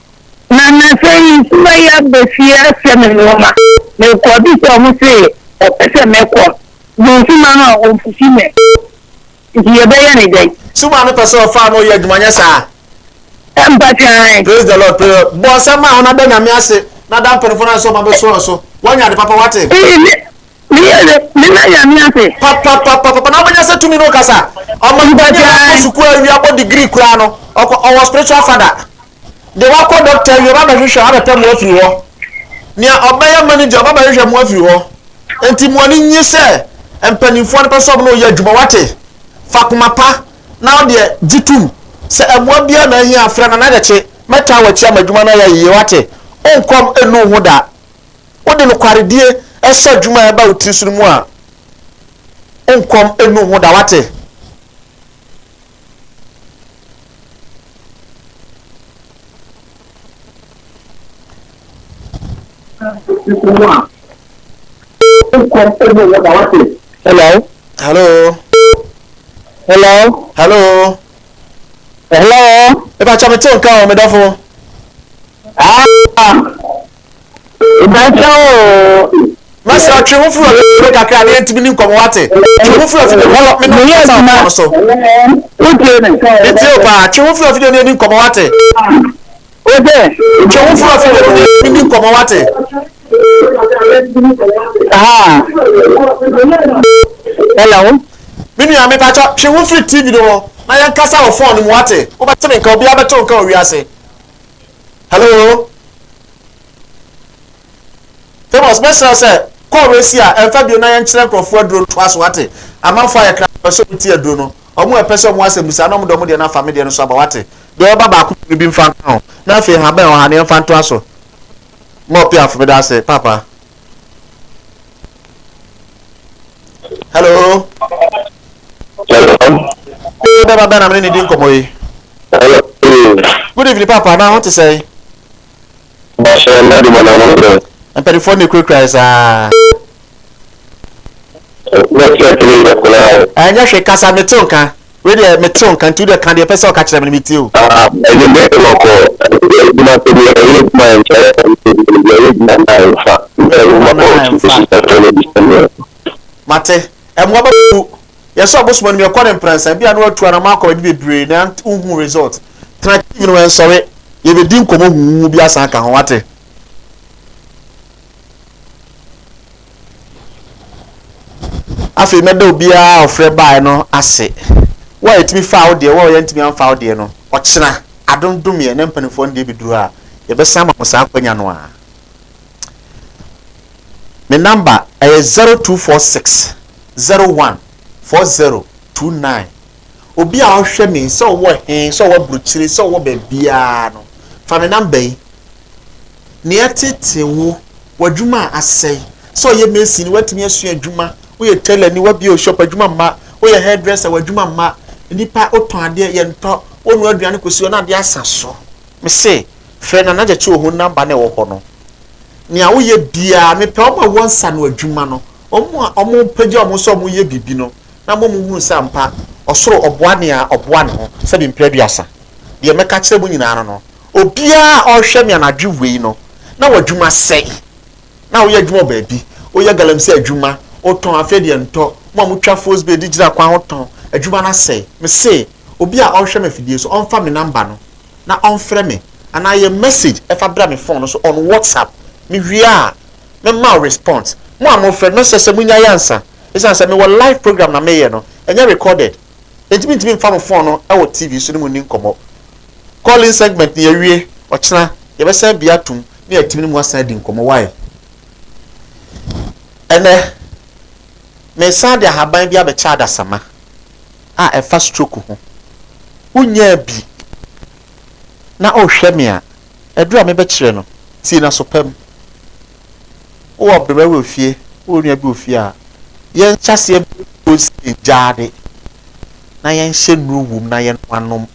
Speaker 3: Na nnansa yi nsuwa yi aba fie asoa me nnoɔma. Mekɔ bisa ɔmo se ɔpɛ sɛ mɛkɔ bu nsuman no a ɔmfusi me. Nti yɛbɛyɛ ne dɛn? Suman no pɛ sɛ ɔfa
Speaker 1: ano yɛ adwuma nyɛ saa? Ampa
Speaker 3: kyae. Praise the Lord praise
Speaker 1: the Lord bɔ nsɛm a ho na da Nyame ase na da mpanyinfoɔ no ase sɛ ɔmo abɛsoa wo so woanya ade papa wate. Me yere,
Speaker 3: meda Nyame ase. Papapapapa na wobɛnya
Speaker 1: sɛ tumi no kasa ɔmanpa ni a wakɔ sukuu awie abɔ degree koraa no ɔkɔ ɔwɔ spiritual father de wakɔ doctor awie ɔba abɛhwehwɛ a wabɛpɛ mo afiri hɔ nea ɔbɛyɛ manager ɔba abɛhwehwɛ mo afiri hɔ nti mo ani nye sɛ mpanimfoɔ no pɛ sɛ ɔmo na ɔyɛ adwuma wate fa koma pa na ɔdeɛ gye tum sɛ ɛmoa biara na ahia frɛ Nana Adakye mɛtaa wakyi ama adwuma no ayɛ yie wate onkɔm enu ho da. wode nokwaredie sɔ adwuma a ɛba wo tiri so no mu a, wo nkɔm nnu wo ho da. Wate? Hello. Hello. Hello. Hello. Hello. Eba chame te nka o medafo. Ah. Mɛsrɛ twe ho firi ɔyɔnko kakra na yɛntumi ni nkɔmmɔ wate? Twe ho firi afidie no hɔ na mɛkasa wɔ fone so. Metie wo paa. Twe ho firi afidie no yɛni nkɔmmɔ wate?
Speaker 3: Twe ho firi
Speaker 1: afidie no na yɛni nkɔmmɔ wate?
Speaker 3: Hello. Me nua
Speaker 1: mepakyɛ twe ho firi TV no ho na yɛnkasa wɔ fone no mu wate? Wobɛte me nka obiara bɛte wo nka wɔ wiase. Hello? Famous, mɛsrɛ wo sɛ kɔɔ wei si a ɛmfa bio na yɛnkyerɛ nkurɔfoɔ aduro no toa so wate. Amanfoɔ ayɛ kra pɛ sɛ wɔn ti aduro no. Wɔn ɛpɛ sɛ wɔn asɛmbusa na wɔn de wɔn deɛ no afa me deɛ no so aba wate. Deɛ ɛba baako mmienu bi mfa nka ho. Na afei nhaban ɛwɔ ha no yɛmfa ntoa so. Mɔ piaf meda ase papa. hello. Ee bɛma bɛn na mene ne di nkɔmmɔ yi.
Speaker 4: Good
Speaker 1: evening papa na ho te sɛn?
Speaker 4: Mpanimfoɔ na ekurakura
Speaker 1: yi saa. Ɛnyɛ hwɛ kasa mete nka. Wei deɛ me te wo nka nti wo deɛ ka deɛ pɛ sɛ ɔka kyerɛ me no me tie o. Ah ɛde me de wɔ
Speaker 4: kɔ adwuma sɛ deɛ ɛyɛ adwuma yɛ nkyɛrɛ sɛ deɛ ɛyɛ adwuma na yɛ nfa na ɛyɛ adwuma na yɛ nfa
Speaker 1: ɛfɛ na ɛdi sɛ neɛ. Mate. Ɛmoa bɛ bu. Yɛ sɛ ɔbosom anim yɛ kɔ ne mprɛnsa bi a na watu anamɔ akɔ baabi bebree na wo hu result. Tena TV no ɛnsɔre yɛ bɛ di nkɔmɔ huuhu bi asan aka ho wate. Afei mɛda obiara a ɔfrɛ baeɛ no ase. Wo a yɛtumi faa wo deɛ, wo a yɛantumi amfa wo deɛ no, ɔkyena adom domeɛ na mpanimfoɔ no deɛ bɛduru a, yɛbɛsan ama mo saa akwanya no a. Me number ɛyɛ 0246 01 40 29. Obi a ɔhwɛ me, sɛ ɔwɔ he, sɛ ɔwɔ aburokyire, sɛ ɔwɔ baabiaa no, fa me namba yi. Nea ɛtetee wo, w'adwuma a asɛe, sɛ ɔyɛ mason ni, woatumi asua adwuma, woyɛ tailor ni, woabie wo shop, adwuma mma, woyɛ hairdresser, w'adwuma mma, nnipa, wotɔn adeɛ, yɛntɔ, wonoa aduane kɔsi hɔ na adeɛ asa so. Mese, frɛ Nana Gyakye wɔ ho namba no a ɛwɔ hɔ no. Nea woyɛ biaa, mepɛ wɔn a wɔnsa ano adwuma no, wɔn a wɔpagya wɔn ho sɛ wɔyɛ biribi no. na mmom nhunu sɛ ampa ɔsoro ɔboa nea ɔboa ne ho sɛ bi mpre aduasa. Deɛ mɛka akyerɛ mo nyinaa no no, obiara a ɔrehwɛ me anadwo wei no, na w'adwuma sɛe, na woyɛ adwuma wɔ baabi, woyɛ galamsey adwuma, wotɔn afei deɛ ntɔ, mo a motwa fosbay de gyina kwan ho tɔn, adwuma no asɛe. Mese, obi a ɔrehwɛ me afidie so, ɔmfa me namba no na ɔmfrɛ me, anaa yɛ message ɛfa bra me phone no so on WhatsApp, mewie a, mɛma wo response. Mo a morefrɛ no, mɛsrɛ sɛ monyae ansa. Esiane sɛ mewɔ live program na mereyɛ no, ɛnyɛ recorded, enti mintumi mfa mo fon no wɔ TV so ne mo nni nkɔmmɔ. Call-in segment no, yɛawie. Ɔkyena, yɛbɛsan abue atom na yɛatumi ne mo asan adi nkɔmmɔ. Wai? Ɛnnɛ, meresan de ahaban bi abɛkyɛ adasamma a ɛfa stroke ho. Wonyaa bi na worehwɛ me a, aduru a mebɛkyerɛ no, tie no aso pa mu. wowɔ ɔbrɛba bi wɔ fie, wowɔ nua bi wɔ fie a, yɛnhyɛ aseɛ mmuo nsie gyaade na yɛnhyɛ nnuro wom na yɛnom anom.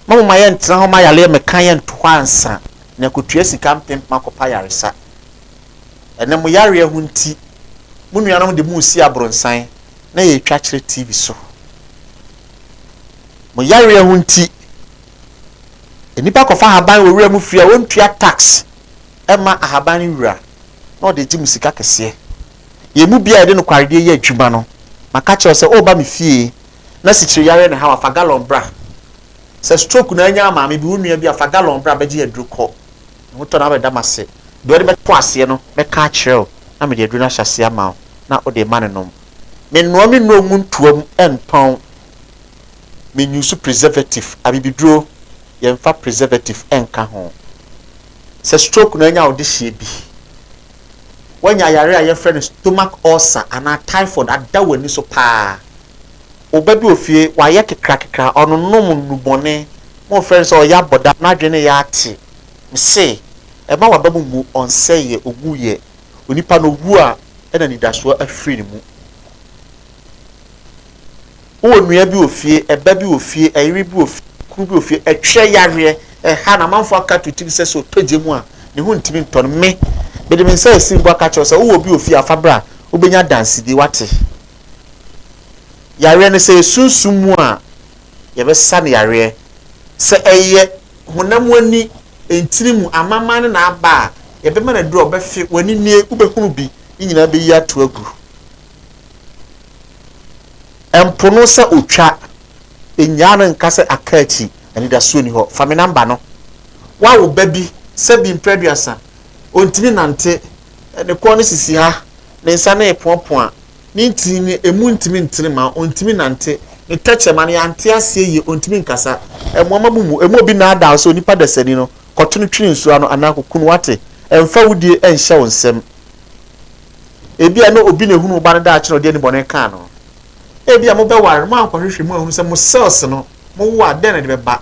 Speaker 1: Ma moma yɛntena hɔ ma yareɛ meka yɛnto hɔ ansa na yɛakɔtua sika mpempem akɔpɛ ayaresa. Ɛnɛ mo yareɛ ho nti, mo nuanom de mo resi abronsan na yɛretwa kyerɛ TV so. Mo yareɛ ho nti, nnipa kɔfa ahaban wɔ wura mu fie a wɔntua tax. ma ahaban no wura na ɔde gye mo sika kɛseɛ. Yɛn mu biara a yɛde nokwaredeɛ yɛ adwuma no, maka akyerɛ wo sɛ woreba me fie na sikyireyareɛ na ɛha wo a, fa galɔn bra. Sɛ stroke na anya maame bi, wo nua bi a, fa galɔn bra bɛgye aduro kɔ. Me ho tɔ na wabɛda m'ase. Deɛ wode bɛto aseɛ no, mɛka akyerɛ wo na mede aduro no ahyɛ aseɛ ama wo na wode rema no nom. Mennoa me nnuro ngu ntoa mu ntɔn. me use preservative, abibiduro, yɛn fa preservative nka ho. Sɛ stroke na anya wo de hyeɛ bi. Wanya yare a yɛfrɛ no stomach ulcer anaa typhoid ada w'ani so paa. Wo ba bi wɔ fie, wayɛ kekrakekra, ɔnonom nnubɔne, mo refrɛ no sɛ ɔyɛ abɔdam, n'adwene no yɛ ate. Me se, mma w'aba mu mmu, ɔnsɛeɛ, ɔwuiɛ. Onipa no wu a, ɛna anidasoɔ afiri ne mu. Wo wɔ nua bi wɔ fie, ɛba bi wɔ fie, ɛyere bi wɔ fie, kunu bi wɔ fie, ɛtwerɛ yareɛ, ɛha no, amanfoɔ aka to tirim sɛ sɛ ɔtɔ gya mu a, ne ho ntumi ntɔ no. Me, mede me nsa asi mpo aka kyerɛ wo sɛ, wo wɔ bi wɔ fie a, fa bra, wobɛnya adansedie, woate. Yareɛ no, sɛ ɛyɛ sunsum mu a, yɛbɛsa no yareɛ. Sɛ ɛyɛ honam ani, ntini mu, amanaman no na aba a, yɛbɛma no aduro a ɔbɛfe, w'ani nie, wobɛhunu bi, ne nyinaa bɛyi ato agu. Mpo no sɛ otwa, nnyaa no nka sɛ aka akyi, anidaso nni hɔ. Fa me namba no. Woawo ba bi, sɛbi mprɛ aduasa, ontumi nnante, ne kɔn no sisi ha, ne nsa no repoapoa, ne ntini no emu ntumi ntene mma ontumi nnante, ne tɛkyerɛma no yɛante aseɛ yie, ontumi nkasa, ɛmoa ma mu mmu. Ɛmu obi nnaadaa wo sɛ onipa dasani no, kɔto no twene nsuo ano anaa kɔku no, woate? Ɛmfa wo die nhyɛ wo nsam. Ebia na obi na ehunuu ɔba no daakye na ɔde anibɔne kaa no. Ebia mobɛware no, moankɔhwehwɛ mu anhunu sɛ mo cells no, mowo a, dɛn na ɛde bɛba.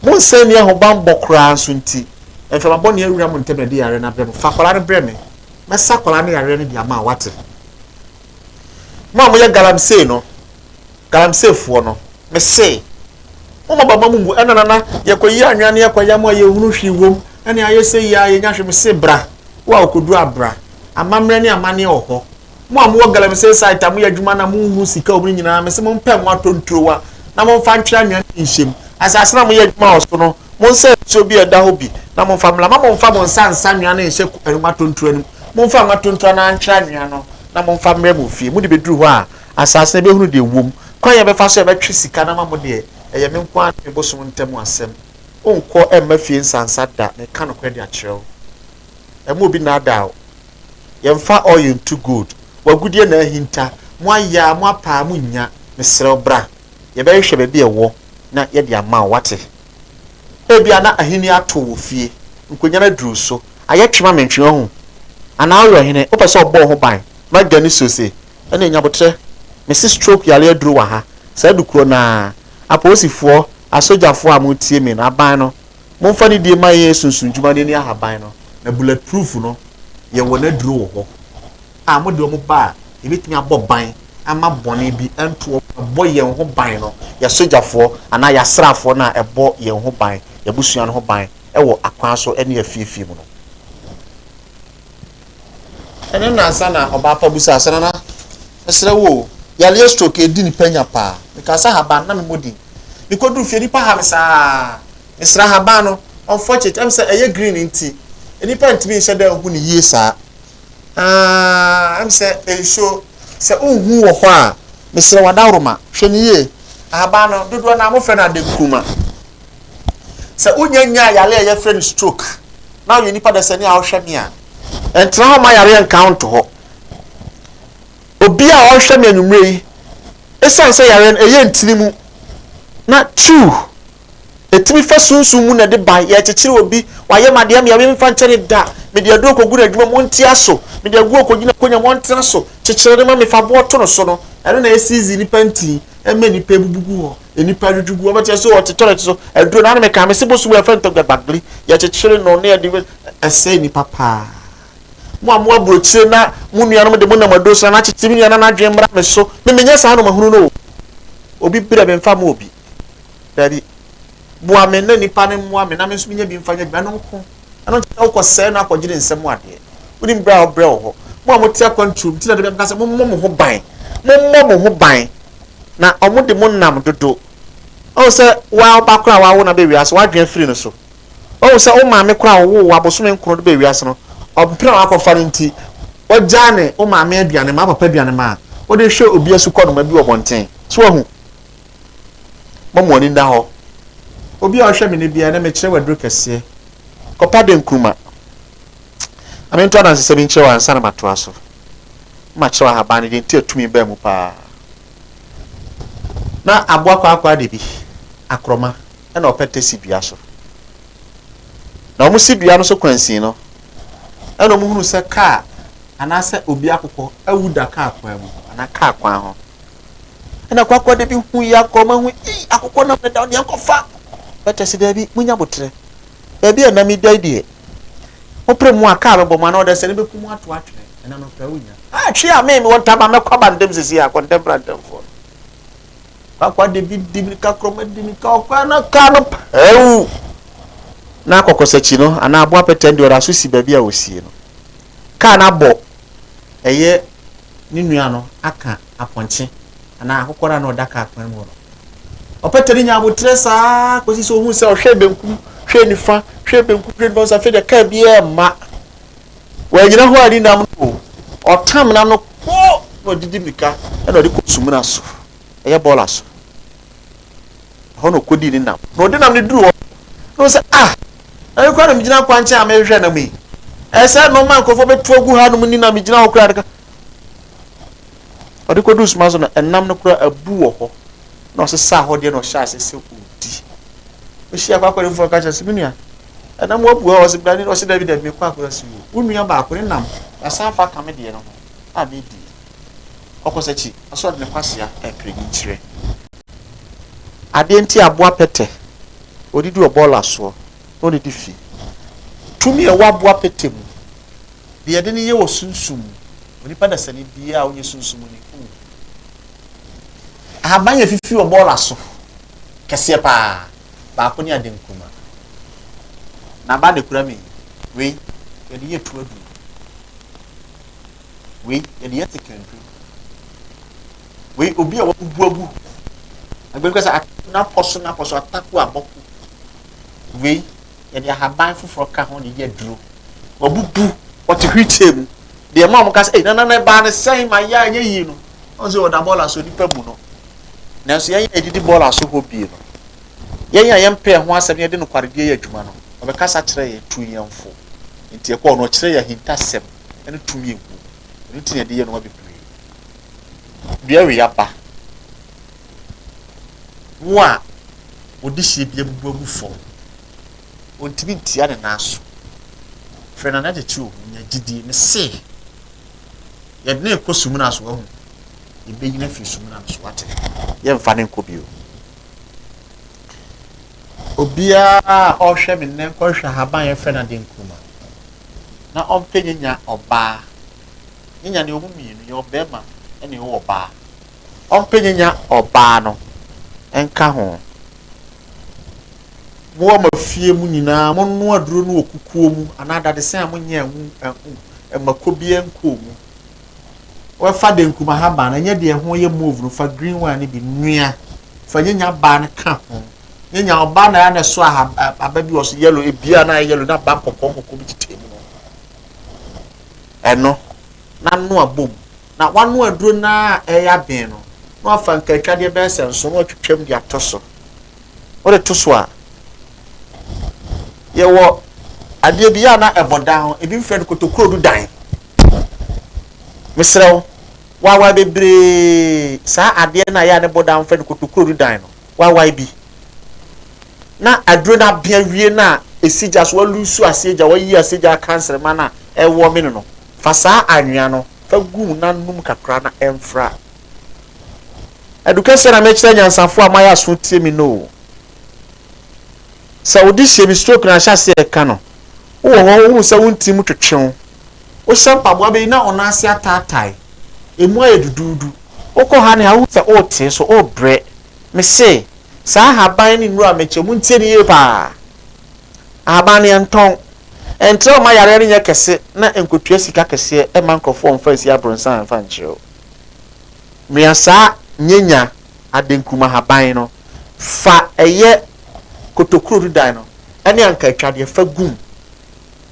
Speaker 1: Mo nsa nni ahobammɔ koraa nso nti, mframa bɔne awura mo ntam na ɛde yareɛ no abrɛ mo. Fa akwadaa no brɛ me. Mɛsa akwadaa no yareɛ no de ama wo, woate? Mo a moyɛ galamsey no, Galamseyfoɔ no, mese, Momma bɛmma mo mmu ɛna nana, yɛkɔyi anwea ne yɛkɔyam a yɛnhunu hwee wom, ɛne ayɛ sɛ yi ara yɛnya hwee, mese, Bra, wo a wokɔduru a bra, amammerɛ ne amanneɛ wɔ hɔ. Mo a mowɔ Galamsey site a moyɛ adwuma na monhunu sika wom no nyinaa, mese mompɛ ngo atɔ nturowa na momfa ntwere anwea no bi nhyɛ mu. Asase no a moyɛ adwuma wɔ so no, monsa nsuo bi a ɛda hɔ bi na momfa mmra. Mma momfa mo nsa nsa anwea no nhyɛ ngo atɔ nturowa no mu. Momfa ngo atɔ nturowa na antwere anwea no na momfa mmrɛ mo fie. Mode bɛduru hɔ a, Asase no bɛhunu deɛ ɛwom. Kwan a yɛbɛfa so a yɛbɛtwe sika no ama mo deɛ, ɛyɛ me nko ara ne me bosom ntam asɛm. Wonkɔ mma fie nsansa da, meka nokorɛ de akyerɛ wo. Mma obi nnaadaa wo. Yɛmfa oil ntu gold. W'agudeɛ na ahinta. Moayɛ a, moapa a, monnya. Mesrɛ wo, bra. Yɛbɛhwehwɛ baabi a ɛwɔ na yɛde ama wo. Woate? Ebia na ahennie ato wo wɔ fie. Nkonnwa no aduru wo so. Ayɛ twe ma me ntwe, woahu? Anaa woyɛ ɔhene, wopɛ sɛ wɔbɔ wo ho ban ma aduane suo se, ɛne nyabotrɛ mese stroke yare aduru wɔ ha saa adu korɔ no ara apolisifoɔ asogyafoɔ a mo tie me no aban no mo nfa ne die ma yɛn sunsun dwuma no ani ahaban no na bullet proof no yɛ wɔn aduro wɔ hɔ a mo de wɔn ba a yɛbɛtumi abɔ ban ama bɔne bi nto wɔn ɛbɔ yɛn ho ban no yɛ sogyafoɔ anaa yɛ asraafoɔ no a ɛbɔ yɛn ho ban yɛbusua no ho ban ɛwɔ akwan so ɛne afiefie mu no. Ɛno nnansa na ɔbaa pa busa sɛ, Nana, mesrɛ wo o, yareɛ stroke redi nipa nya paa. Mekaa sɛ ahaban, na memmɔ din. Mekɔduru fie, nnipa ha me saa. Mesrɛ ahaban no, unfortunately, ɛwom sɛ ɛyɛ green nti, nnipa ntumi nhyɛ da nhu no yie saa. Ah, ɛwom sɛ nsuo, sɛ wonhu wɔ hɔ a, mesrɛ wo adaworoma, hwɛ no yie. Ahaban no, dodoɔ no ara, wɔfrɛ no adenkuruma. Sɛ wonya nyaa yare a yɛfrɛ no stroke na woyɛ nipa dasani a ɔhwɛ me a, ɛntena hɔ ma yareɛ nka wo nto hɔ. Obi a ɔhwɛ me anwummerɛ yi, ɛsiane sɛ yareɛ no ɛyɛ ntini mu na tiriw ɛtumi fa sunsum mu na ɛde ba yɛkyekyere obi wayɛ ma deɛ meɛ memfa nkyɛ ne da mede aduro kɔgu no adwuma mu ntia so mede aguo kɔgyina konya mu ɔntena so kyekyere no ma mefa boɔ to no so no ɛno na ɛsizi nipa nti ɛma nipa bubugu hɔ nnipa dwudwo gu wɔbɛte sɛ ɔte tɔlɛt so aduro na anameka me se bosu wɔ ɛfɛ ntɔgya gbagli yɛkyekyere no ne yɛde ɛsɛ nnipa paa mo a mo aburokyire na mo nuanom de mo nam aduro sra na akyekye me nua na n'adwene mmra me so me menyɛ saa no mahunu no obi brɛ me mfa mo obi dabi boa me na nnipa no mmoa me na me nso menya bi mfa nyɛ adwuma no nko ɛno nkyɛ wokɔ sɛe no akɔgye ne nsɛm adeɛ wonim berɛ a wɔbrɛ wɔ hɔ mo a mote akwanturom nti na de bɛmka sɛ mommɔ mo ho ban mommɔ mo ho ban na wɔde mo nam dodo. Wahu sɛ wo ara wo ba koraa a woawo no aba wiase, w'adwene afiri no so. Wahu sɛ wo maame koraa a ɔwoo wo abosome nkron de baa wiase no, ɔmpene a wakɔfa no nti, wagyaa ne wo maame aduane ma, wo papa aduane ma a wode hwɛ obi asukɔnoma bi wɔ abɔnten. So wahu? Moma mo ani nna hɔ. Obi a ɔhwɛ me nnɛ biara, ɛnnɛ mekyerɛ wo aduro kɛseɛ. Kɔpa dɛ nkruma. Ame nto adansesɛm yi nkyerɛ wo ansa na matoa so. makyerɛw ahaban no din nti a tumi baa mu paa. Ná aboa kwaakwaade de bi, akorɔma, na ɔpɛtɛ si dua so. Na wɔsi dua no so kwansin no, ɛna wɔhunu sɛ kaa anaasɛ obi akokɔ awu da kaa kwan mu anaa kaa kwan ho. Ɛna kwaakwaade bi hu yi akorɔma hu yi akokɔ nam ne da deɛ nkɔfa. Pɛtɛ si daabi, munya botrɛ. Baabi a na meda yi deɛ, Wopere mu a car bɛbɔ mu anaa ɔde asɛne bɛku mu ato atwene. Ɛna no koraa wonnya. Ah, twi a me, mewɔ ntam a mɛkɔ aba ntɛm sisi a, kɔntɛmpra ntɛmfoɔ no. Kwakwa de bi di mirika korɔma di mirika ɔkora na car no pɛw. Na kɔkɔsakyi no anaa aboa pɛtɛn deɛ ɔda so si baabi a wɔsie no. Car no abɔ ɛyɛ ne nua no aka. apɔnkye anaa akokɔr a nna ɔda kaar kwan mu hɔ no. Ɔpɛtɛr no nyaa aboterɛ saa ara kɔsii sɛ ɔhuu sɛ ɔhwɛɛ benkum, hwɛɛ nifa, hwɛɛ benkum, hwɛɛ nifa, ɔhuu sɛ afei deɛ kaar biara mma. Wannyina hɔ anni nam no o, ɔtam nam no kpo na ɔde di mmirika na ɔde kɔ sumina so, ɛyɛ bɔɔla so. Ɛhɔ na ɔkɔdii ne nam. Na ɔde nam no duru hɔ no, na ɔhu sɛ, ah, ɛno koraa na megyina kwankyɛn a merehwehwɛ nam yi. Ɛyɛ sɛ ɛno ma nkurɔfoɔ bɛtu agu hanom ni na megyina hɔ koraa. Ɔde kɔduu soma so no, ɛnam no koraa abu wɔ hɔ, na ɔsesaa hɔ deɛ na ɔhyɛ ase sɛ ɔdi. Ɔhyia kɔ akɔre foforɔ ka kyerɛ sɛ, me nua, ɛnam wabu hɔ a ɔse bra ne ɔse dabi dabi mekɔ akɔre ase o. Wo nua baako ne nam asan fa ka me deɛ no ho a medi. Ɔkɔ sakyi, ɔse ɔde ne kwasea ɛpere ne nkyerɛ. Adeɛ nti aboa pɛtɛ, ɔdidi ɔbɔɔla soɔ na ɔdidi fi. Tumi a ɛwɔ aboa pɛtɛ mu Deɛ yɛde no yɛ wɔ sunsum mu, onipa dasani biara a ɔnyɛ sunsum ni hu. Ahaban yɛ fifi wɔ bɔɔla so, kɛseɛ paa, baako ne ade nkuma. Na aba de kura mi, wei yɛde yɛ tu aduru, wei yɛde yɛ tekantu, wei obi a wabubu agu, agbɛnkasa n'apɔ so n'apɔ so atako abɔko, wei yɛde ahaban foforɔ ka ho de yɛ aduro wabubu wɔte hwitie mu deɛ ma wɔn ka sɛ nana na ɛbaa ne sɛn ma yɛ anyɛ yie no wɔn sɛ wɔda bɔɔla so nipa mu no nanso yɛn yɛ didi bɔɔla so hɔ bie no yɛn a yɛn pɛɛ ho asɛm yɛde no kwaredeɛ yɛ adwuma no ɔbɛkasa kyerɛ yɛn tu yɛn fo nti ɛkɔ ɔno ɔkyerɛ yɛn ahintasɛm ɛne tumi ewu ɛno ti na yɛde yɛ nneɛma bebree dua wei aba Wo a wo dehyeɛ bi abubu agu fam, ɔntumi ntia ne nan so. Frɛ no anadekye o, nya gyidie. Mese, yɛde no rekɔ sumina so ahu. Yɛbɛyi no afiri sumina no so wate. Yɛmfa no nkɔ bio. Obiara a ɔhwɛ me nnɛ nkɔhwɛ ahaban yɛfrɛ no ade nkuruma na ɔmpɛ nyanya ɔbaa. Nyanya ne ɔmu mmienu, yɛ ɔbɛrima ne ɔwɔ ɔbaa. ɔmpenyenya ɔbaa no nka ho. Mo a mo afie mu nyinaa monoa aduro no wɔ kukuo mu anaa dadesɛn a monyɛ anwu anhu mmako biara nkɔɔ mu. Fa denkum ahaban no, ɛnyɛ deɛ ɛho yɛ mauve no, fa green one no bi noa. Fa nyenya baa no ka ho. Nyenya ɔbaa na ɛyɛ na ɛso aba bi wɔ so yellow, ebia na ayɛ yellow na aba nkɔkɔɔ nkɔkɔɔ bi tetɛ mu no. Ɛno, na noa bom na wɔanoa aduro no ara a ɛreyɛ aben no, na wɔafa nkantwadeɛ bɛyɛ sɛ nson na wɔatwitwam de ato so. Wode to so a, yɛwɔ adeɛ bi yɛ a na ɛbɔ dan ho, ebi mfrɛ no kotokurodu dan. Mesrɛ wo, wawae bebree saa adeɛ no a yɛ a ne bɔ dan mfrɛ no kotokurodu dan no, wawae bi. Na aduro no abea wie no a ɛsi gya so, walusu ase agya, wayi ase agya akansere ma no a ɛwɔ mene no. Fa saa anwea no fa gu na nom kakra na ɛmfra. Adu kɛseɛ na mekyerɛ nyansafoɔ a moayɛ aso tie me no o. Sɛ wo de hyɛ bi stroke na ahyɛ aseɛ ɛka no, wowɔ hɔ wohu sɛ wo ntini mu twetwe wo, wohyɛ mpaboa bɛyi na wo nan ase ataatae, ɛmu ayɛ duduudu, wokɔ ha ne ha wohu sɛ woretee so, worebrɛ. Mese, saa ahaban ne nnuro a mekyɛ, montie no yie paa. Ahaban no yɛntɔn. Ɛntrɛw mma yareɛ no nyɛ kɛse na ɛnkotua sika kɛseɛ mma nkurɔfoɔ mfa nsi abrɔnsan mfa nkyerɛw. Noa saa nyanya adenkurumu ahaban no, fa ɛyɛ kotokuro dudan no ne anka atwadeɛ fa gu mu.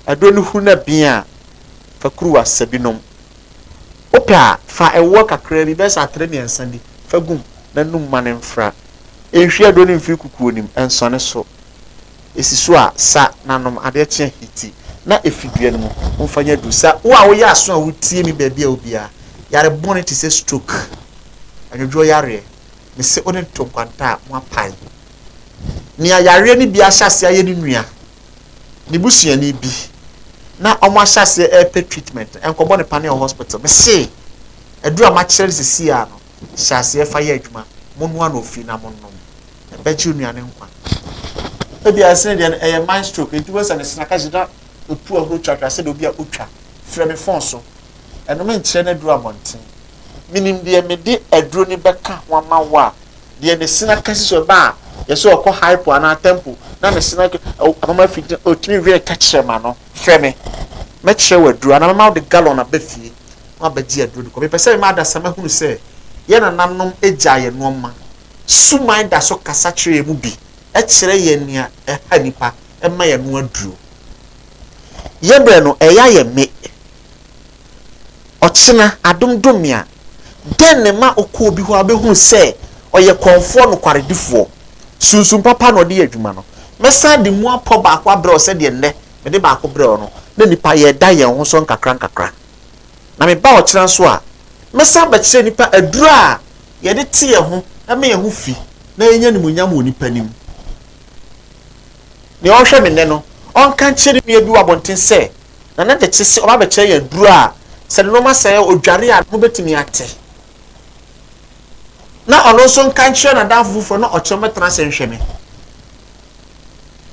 Speaker 1: Aduro no huru no abien a, fa kuruwa sɛ bi nom. Wopɛ a, fa ɛwoɔ kakraa bi, bɛyɛ sɛ atere mmiɛnsa bi, fa gu mu na num ma no mfra. Nhwie aduro no mfiri kukuo no mu, nsɔne so. esi so a, sa n'anom. Adeɛ kye a, hiti na efi dua no mu. Momfa nyɛ aduru. Sa wo a woyɛ aso a wutie me baabi a wo biara. Yare bɔne te sɛ stroke, anwodwoɔ yareɛ, mese wo ne ntonkwanta a moapae. Nea yareɛ no bi ahyɛ aseɛ ayɛ ne nua, ne busuani bi, na wɔahyɛ aseɛ repɛ treatment no, ɛnkɔbɔ no paneɛ wɔ hospital. Mese, aduru a makyerɛ no seesei ara no, hyɛ aseɛ fa yɛ adwuma. Monnoa no ofie na monnom. ɛbɛgye onua no nkwa. Ebia ɛsene deɛ no, ɛyɛ mind stroke, enti wobɛhu sɛ ne sene aka gyina apu ahorow twatwa sɛdeɛ obi a otwa frɛ me fon so. Ɛno menkyerɛ no aduru abɔnten. Menim deɛ mede aduro no bɛka ho ama wo a deɛ ne sene aka si so ɛba a, yɛ sɛ ɔkɔ hypo anaa temple na ne sene aka ama ma afi gyina, otumi wɛn tɛkyerɛma no, frɛ me. Mɛkyerɛ wo aduro anaa mɛma wode gallon aba fie na wabɛgye aduro de kɔ. Mepɛ sɛ mema adasamma hunu sɛ yɛn nananom gyaa yɛn nnoɔma Suman da so kasa kyerɛ yɛn mu bi, ɛkyerɛ yɛn nea ɛha nnipa, ɛma yɛn ano aduro. Yɛ berɛ no, ɛyɛ ayɛ me. Ɔkyena, adom dom me a, dɛn na ɛma wokɔ obi hɔ a wobɛhunu sɛ ɔyɛ kɔmfoɔ nokwaredifoɔ? Sunsum papa na ɔde yɛ adwuma no. Mɛsan de mu apɔ baako abrɛ wo sɛdeɛ nnɛ mede baako brɛɛ wo no, na nnipa yɛda yɛn ho so nkakrankakra. Na meba ɔkyena nso a, mɛsan abɛkyerɛ nnipa aduro a yɛde te yɛn ho ma yɛn ho fi na yɛnya animuonyam wɔ nnipa anim. Nea ɔrehwɛ me nnɛ no, ɔnka nkyerɛ ne nua bi wɔ abɔnten sɛ, Nana Gyekye se ɔba abɛkyerɛ yɛn aduru a sɛ nneɛma sɛe a odware a ne ho betumi ate. Na ɔno nso nka nkyerɛ n'adamfo foforɔ na ɔkyerɛ mɛtena ase nhwɛ me.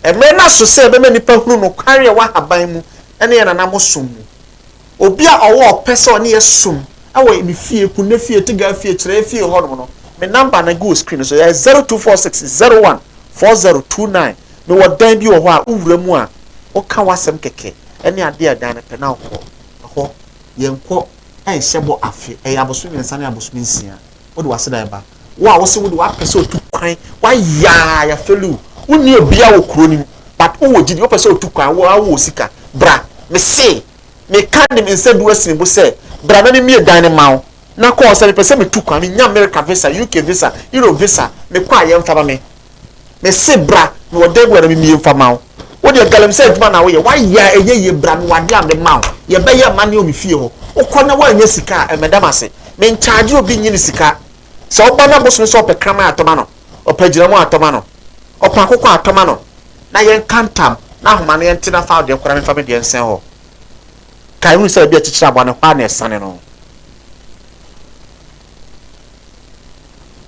Speaker 1: Mmerɛ no aso sɛ ɛbɛma nnipa hunu nokware a ɛwɔ ahaban mu ne yɛn nanamosom mu. Obi a ɔwɔ ɔpɛ sɛ ɔne yɛ som wɔ me fie, Kunne fie, Tiga fie, Kyerɛɛ fie hɔ nom no, me number no gu wɔ screen no so, ɛyɛ zero two four six zero one four zero two nine. Me wɔ dan bi wɔ hɔ a, wo wura mu a, wo ka w'asɛm kɛkɛ ɛne adeɛ a ɛdan no pɛ na wo kɔ ɛhɔ. Yɛ nkɔ ɛnhyɛ bɔ afe, ɛyɛ abosom mmiɛnsa ne abosom nsia, wo de w'aseda ɛba. Wo a wo se wo de w'apɛ sɛ otu kwan, w'ayaa, yɛ feli wo, wo nni obia wɔ kuro no mu, but wo wɔ gyidi, wo pɛ sɛ otu kwan, wo a wo wɔ sika, bra, me see. Meka de me nsa du asi me bo sɛ, Bra na mimmue dan no mma wo. Na kɔɔ sɛ mepɛ sɛ mitu kwan. Minya Amerika visa, UK visa, Europe visa. Mekɔ a, yɛmfa ma me. Mese, Bra, mewɔ dan bi wɔ ha na mimmue mfa mma wo. Wo deɛ, galamsey adwuma na woyɛ. Woayɛ a, ɛnyɛ yie. Bra, mewɔ adeɛ a mede ma wo. Yɛbɛyɛ amanneɛ wɔ me fie hɔ. Wokɔ na woannya sika a, ɛmmɛda me ase. Menkyaagye obi nnye me sika. Sɛ ɔba na bosome sɛ ɔpɛ kraman a, tɔ ma no. Ɔpɛ agyinamoa a, tɔ ma no. Ɔpɛ akokɔ a, tɔ ma no, na yɛnka ntam, na ahoma no, yɛnte na fa wo deɛ koraa mfa me deɛ nsɛn hɔ. Kae hunu sɛ baabi a akyikyiri aboa no, hɔ ara na ɛsane no.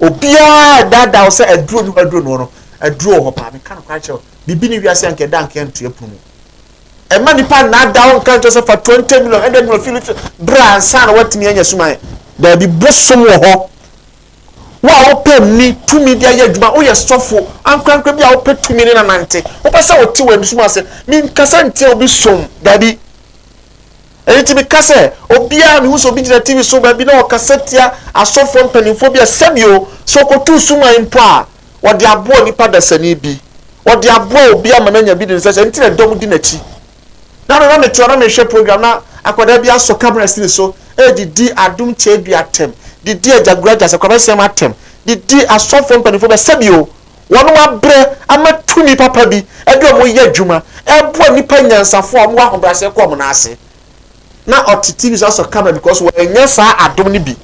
Speaker 1: Obiara ɛdaadaa wo sɛ aduro ni hɔ, aduro ni hɔ no, aduro wɔ hɔ paa. Meka no koraa kyerɛ wo, biribi ne wiase anka ɛda anka ɛnto ɛpono mu. Ɛma nipa nnaadaa wo nka nkyerɛ sɛ fa 20 million, 100 million, Philips, bra ansa na woatumi anya suman. Daabi, bosom wɔ hɔ. Wo a wopɛ nni tumi de ayɛ adwuma, woyɛ sɔfo ankorankoro bi a wopɛ tumi ne no anante, wopɛ sɛ wote w'ani som ase. Menkasa ntia obi som, dabi. Ɛno nti meka sɛ, obiara a mehu sɛ obi gyina TV so baabi na ɔkasa tia asɔfoɔ mpanimfoɔ bi a, sɛbio, sɛ ɔkɔtuu suman mpo a, wɔde aboa onipa dasani bi. Wɔde aboa obi ama no anya bi de no sɛ, sɛ ɛno nti na dɔm di n'akyi. Dada na mete hɔ na merehwɛ program na akwadaa bi asɔ camera sini so de di Adom Tadua atɛm, de di Agya Gura Gyase Kwabasiam atɛm, de di asɔfoɔ mpanimfoɔ bi atɛm. Sɛbi o, wɔn abrɛ ama tumi papa bi de wɔn reyɛ adwuma reboa nnipa nyansafoɔ a wɔwɔ ahobrɛaseɛ kɔ wɔn nan ase. Na ɔte TV so asɔ camera because wannya saa adom no bi,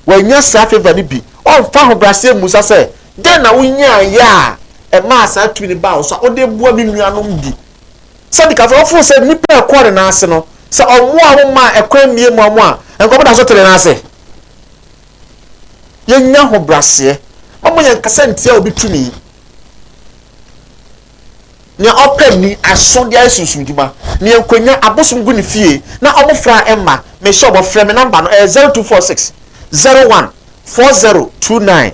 Speaker 1: wannya saa favour no bi. Ɔmfa ahobrɛaseɛ mmusa sɛ, Dɛn na wonyaeɛ a ɛmaa saa tumi no baa wo so a wode reboa me nuanom bi Sadiq afei ɔfoo sɛ nnipa a ɛkɔɔ ne nan ase no, sɛ ɔmmoaa wɔn mmaa ɛkwan mmie mmoa mo a, nka wɔbɛda so te ne nan ase. Yɛnnya ahobraseɛ. Momma yɛnkasa ntia obi tumi. Nea ɔpɛ nni aso de ayɛ sunsumdwuma. Nea nkwannya abosom gu ne fie na wɔfra mma, mehyɛ ɔbɔ frɛ me namba no ɛyɛ 0246 01 4029.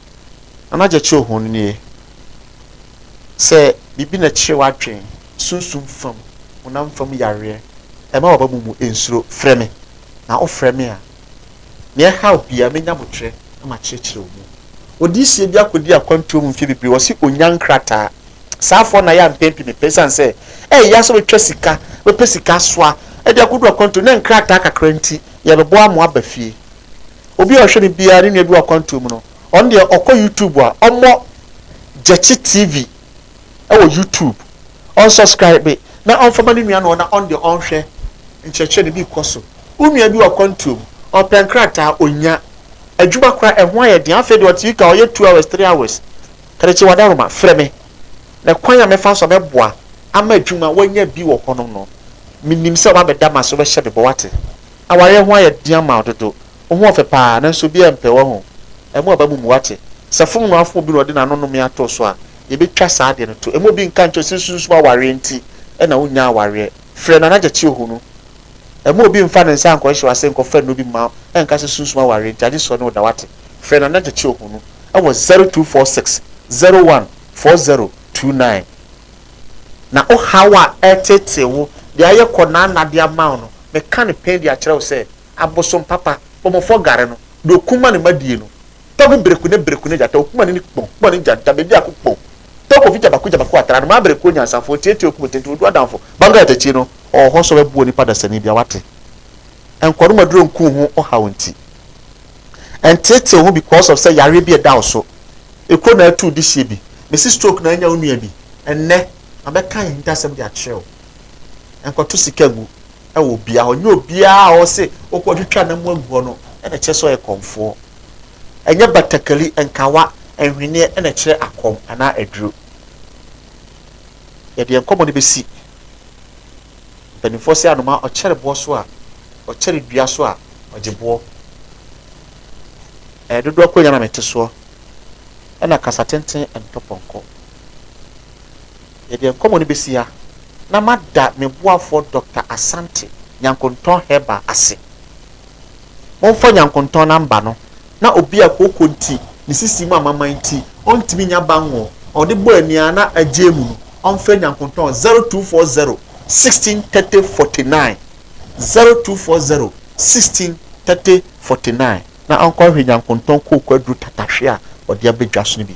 Speaker 1: na na gyɛkyerɛ hɔn nie, Sɛ biribi na ɛkyere w'adwen, sunsum fam, honam fam yareɛ, ɛma w'aba mu mu nsuro, frɛ me. Na wofrɛ me a, nea ɛhaw biara, mɛnya aboterɛ na makyerɛkyerɛ wo mu. Odiyisie bi akɔdi akwantuo mu mfeɛ bebree, ɔse ɔnnya nkrataa. Saa afoɔ no ayɛ ampɛn pii mepɛ, ɛsiane sɛ ɛyɛ ya sɛ wobɛtwa sika, wobɛpɛ sika asoa de akɔdu akwantuo mu, na nkrataa kakra nti, yɛbɛboa mo aba fie. Obi a ɔhwɛ me biara ne nua bi wɔ akwantuo mu no, ɔno deɛ ɔkɔ YouTube a, ɔmmɔ Gyekye TV wɔ YouTube, ɔnsɔskraibe na ɔmfa ma ne nua no na ɔno deɛ ɔnhwɛ nkyerɛkyerɛ no bi kɔ so. Wo nua bi wɔ akwantuo mu, ɔpɛ nkrataa, ɔnnya. Adwuma koraa, ɛho ayɛ den. Afei deɛ ɔte UK a, ɔyɛ two hours, three hours. Karekye Wadaroma, frɛ me na kwan a mɛfa so a mɛboa ama adwuma a woanya bi wɔ hɔnom no, menim sɛ wobɛbɛda m'ase, wobɛhyɛ me bɔ, woate? Awareɛ ho ayɛ den ama wo dodo. Wo ho ɔfɛ paa nanso obiara mpɛ wahu. Ɛmu aba mu mu wate. Sɛ fononoo afon obi na ɔde n'ano nome ato so a, yɛbɛtwa saa adeɛ no to. Ɛmu obi nka nkyerɛ wo sɛ nsunsum awareɛ nti na wonnya awareɛ. Frɛ Nana Gyakye ɔhunu. Ɛmu obi mfa ne nsa nkɔhyehyɛ wo ase nkɔfa nnuro bi mma wo ɛnka sɛ sunsum awareɛ nti agye sɛ ɔne wo da wate. Frɛ Nana Gyakye ɔhunu wɔ zero two four six zero one four zero two nine. Na wo haw a ɛreteetee wo de ayɛ kɔnanna de ama wo no, meka no pɛn de akyerɛ wo sɛ abosom papa, bɔmmɔfoɔ gare no, deɛ ɔkum ma ne mma die no, tɔ gu bereku ne bereku ne gyata, ɔkum ani ne kpɔn, kpɔn ne gyanta, bɛdiako kpɔn, tɔ kofi gyabako gyabako atra no, maa bereku onyansafoɔ, tiatia okum tenten, ɔdu adamfo, bangaa takyi no, ɔwɔ hɔ sɔ bɛboɔ nipa dasani bia, wate? Nkɔnom aduro nku ho ɔhaw nti. Ɛnteetew ho because of sɛ yareɛ bi ɛda wo so, ekuro na atu wo dehyeɛ bi, mese stroke na anya wo nua bi, ɛnnɛ mabɛka ahintasɛm de akyerɛ wo. nkɔto sika ngu wɔ obiara hɔ. Nyɛ obiara a ɔse wokɔtwitwa ne mmoa ngu hɔ no na ɛkyerɛ sɛ ɔyɛ kɔmfoɔ. Ɛnyɛ batakari, nkawa, nhweneɛ na ɛkyerɛ akɔm anaa aduro. Yɛde yɛn nkɔmmɔ no bɛsi mpanimfoɔ sɛ anomaa ɔkyɛre boɔ so a, ɔkyɛre dua so a, ɔgye boɔ. Ɛyɛ dodoɔ konya na mete soɔ, ɛna kasa tenten ntɔ pɔnkɔ. Yɛde nkɔmmɔ no besi ha, na mada me boafoɔ Dɔkta Asante Nyankontɔn Herbal ase. Momfa Nyankontɔn number no na obi a kooko nti ne sisi mu amaman nti ɔntumi nnya banwɔ a ɔde bɔ ani ara na agyae mu no ɔmfrɛ Nyankontɔn 0240 16 30 49, 0240 16 30 49 na ɔnkɔhwehwɛ Nyankontɔn kooko aduru tatahwe a ɔde abɛdwa so no bi.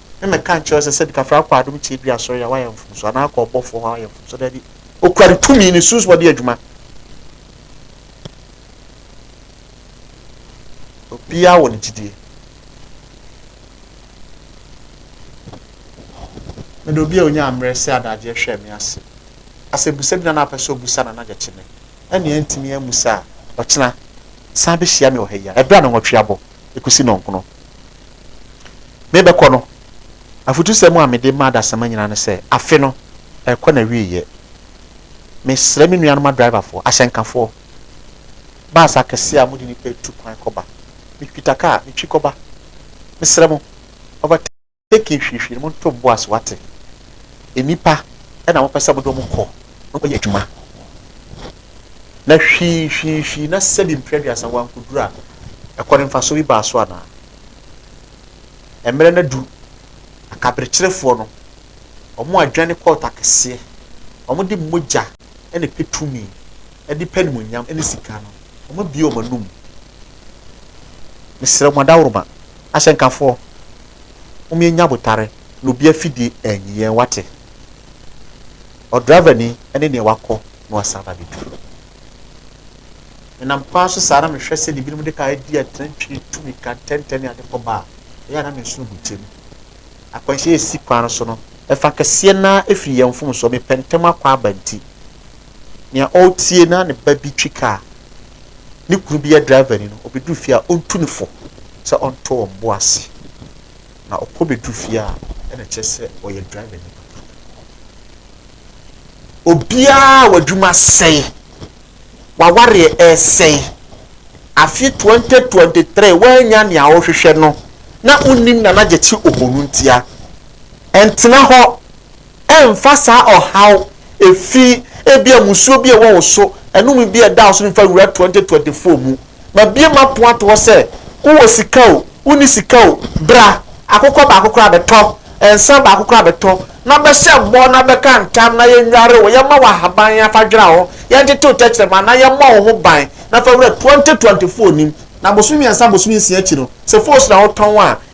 Speaker 1: na mɛka nkyerɛ wo sɛ sɛ Dikafra akɔ adom tiabiri asɔre a wayɛ mfomso anaa akɔ ɔbɔfoɔ hɔ a wayɛ mfomso daabi okura ne tumi ne sunsum ɔde adwuma obiara wɔ ne gyidie mede obi a ɔnya mmerɛ sɛ adagyeɛ hwɛ me ase asɛ busa bi na na apɛ sɛ ɔbusa na nagyɛ kye me ɛne antumi amusa a ɔkyena san bɛhyia me wɔ ha yi a ɛberɛ a na nwɔtwe abɔ kosi nnɔnkono. Merebɛkɔ no, afotusɛm a mede ma adasamma nyinaa ne sɛ, Afe no, ɛrekɔ n'awieeɛ. Mesrɛ me nuanom adriverfoɔ, ahyɛnkafoɔ, bus akɛseɛ a mode nnipa tu kwan kɔba, metwitwa kaa, metwi kɔba, mesrɛ mo, overtake, Eke nhwehwɛmu ntomboa so atse. Nyimpa na wɔpɛ sɛ wɔdɔm kɔ na wɔyɛ edwuma. Na hwiihwiihwii na sɛbi mprɛduasa wɔannkodur a, kɔ no mfaso bi baa so anaa? Mber no dur, akaberkyerefoɔ no, wɔadwane kɔɔto akɛseɛ, wɔde mogya na pɛ tumi de pɛ animuonyam ne sika no, wɔabue wɔn anom. Mesrɛ mo adaworoma, ahyɛnkafoɔ, mom yɛnyɛ abotare na obi afidie anyi yɛn, wate? Ɔdraivani ne deɛ wakɔ na wasan aba abɛdu. Menam kwan so saa na mehwɛ sɛdeɛ binom de kaa adi atena twi, tu mmirika ntɛntɛ ne ade kɔ ba a, ɛyɛ a na mensono bogya mu. Akwanhyia a ɛsi kwan no so no, ɛfa kɛseɛ no ara firi yɛn mfomsoɔ, mepɛ ntɛm akɔ aba nti. Nea ɔretie na ne ba bi twi ka a ne kunu bi yɛ drivani no, obedu fie a, ontu no fo sɛ ɔntɔ wɔn bo ase. Na ɔkɔ bedu fie a, ɛna ɛkyerɛ sɛ ɔyɛ drivani papa. Obiara a w'adwuma sɛe, w'awareɛ ɛresɛe, afe 2023 woannya nea wohwehwɛ no na wonnim Nana Gyekye Ohono ntia, ɛntena hɔ. Mfa saa ɔhaw, efi, ebia mmusuo bi a ɛwɔ wo so, anum bi a ɛda wo so no mfa wura 2024 mu. Mabue m'apono ato hɔ sɛ, wowɔ sika o, wonni sika o, bra, akokɔ baako koraa bɛtɔ, nsa baako koraa bɛtɔ, na bɛhyɛ mmɔ na bɛka ntam na yɛnnware wo, yɛmma wo ahaban na fa dwera hɔ, yɛntete wo tɛkyerɛma na yɛmmɔ wo ho ban na fa wura 2024 nim. Na bosome mmiɛnsa bosome nsia akyi no, sɛ foosu na wotɔn a,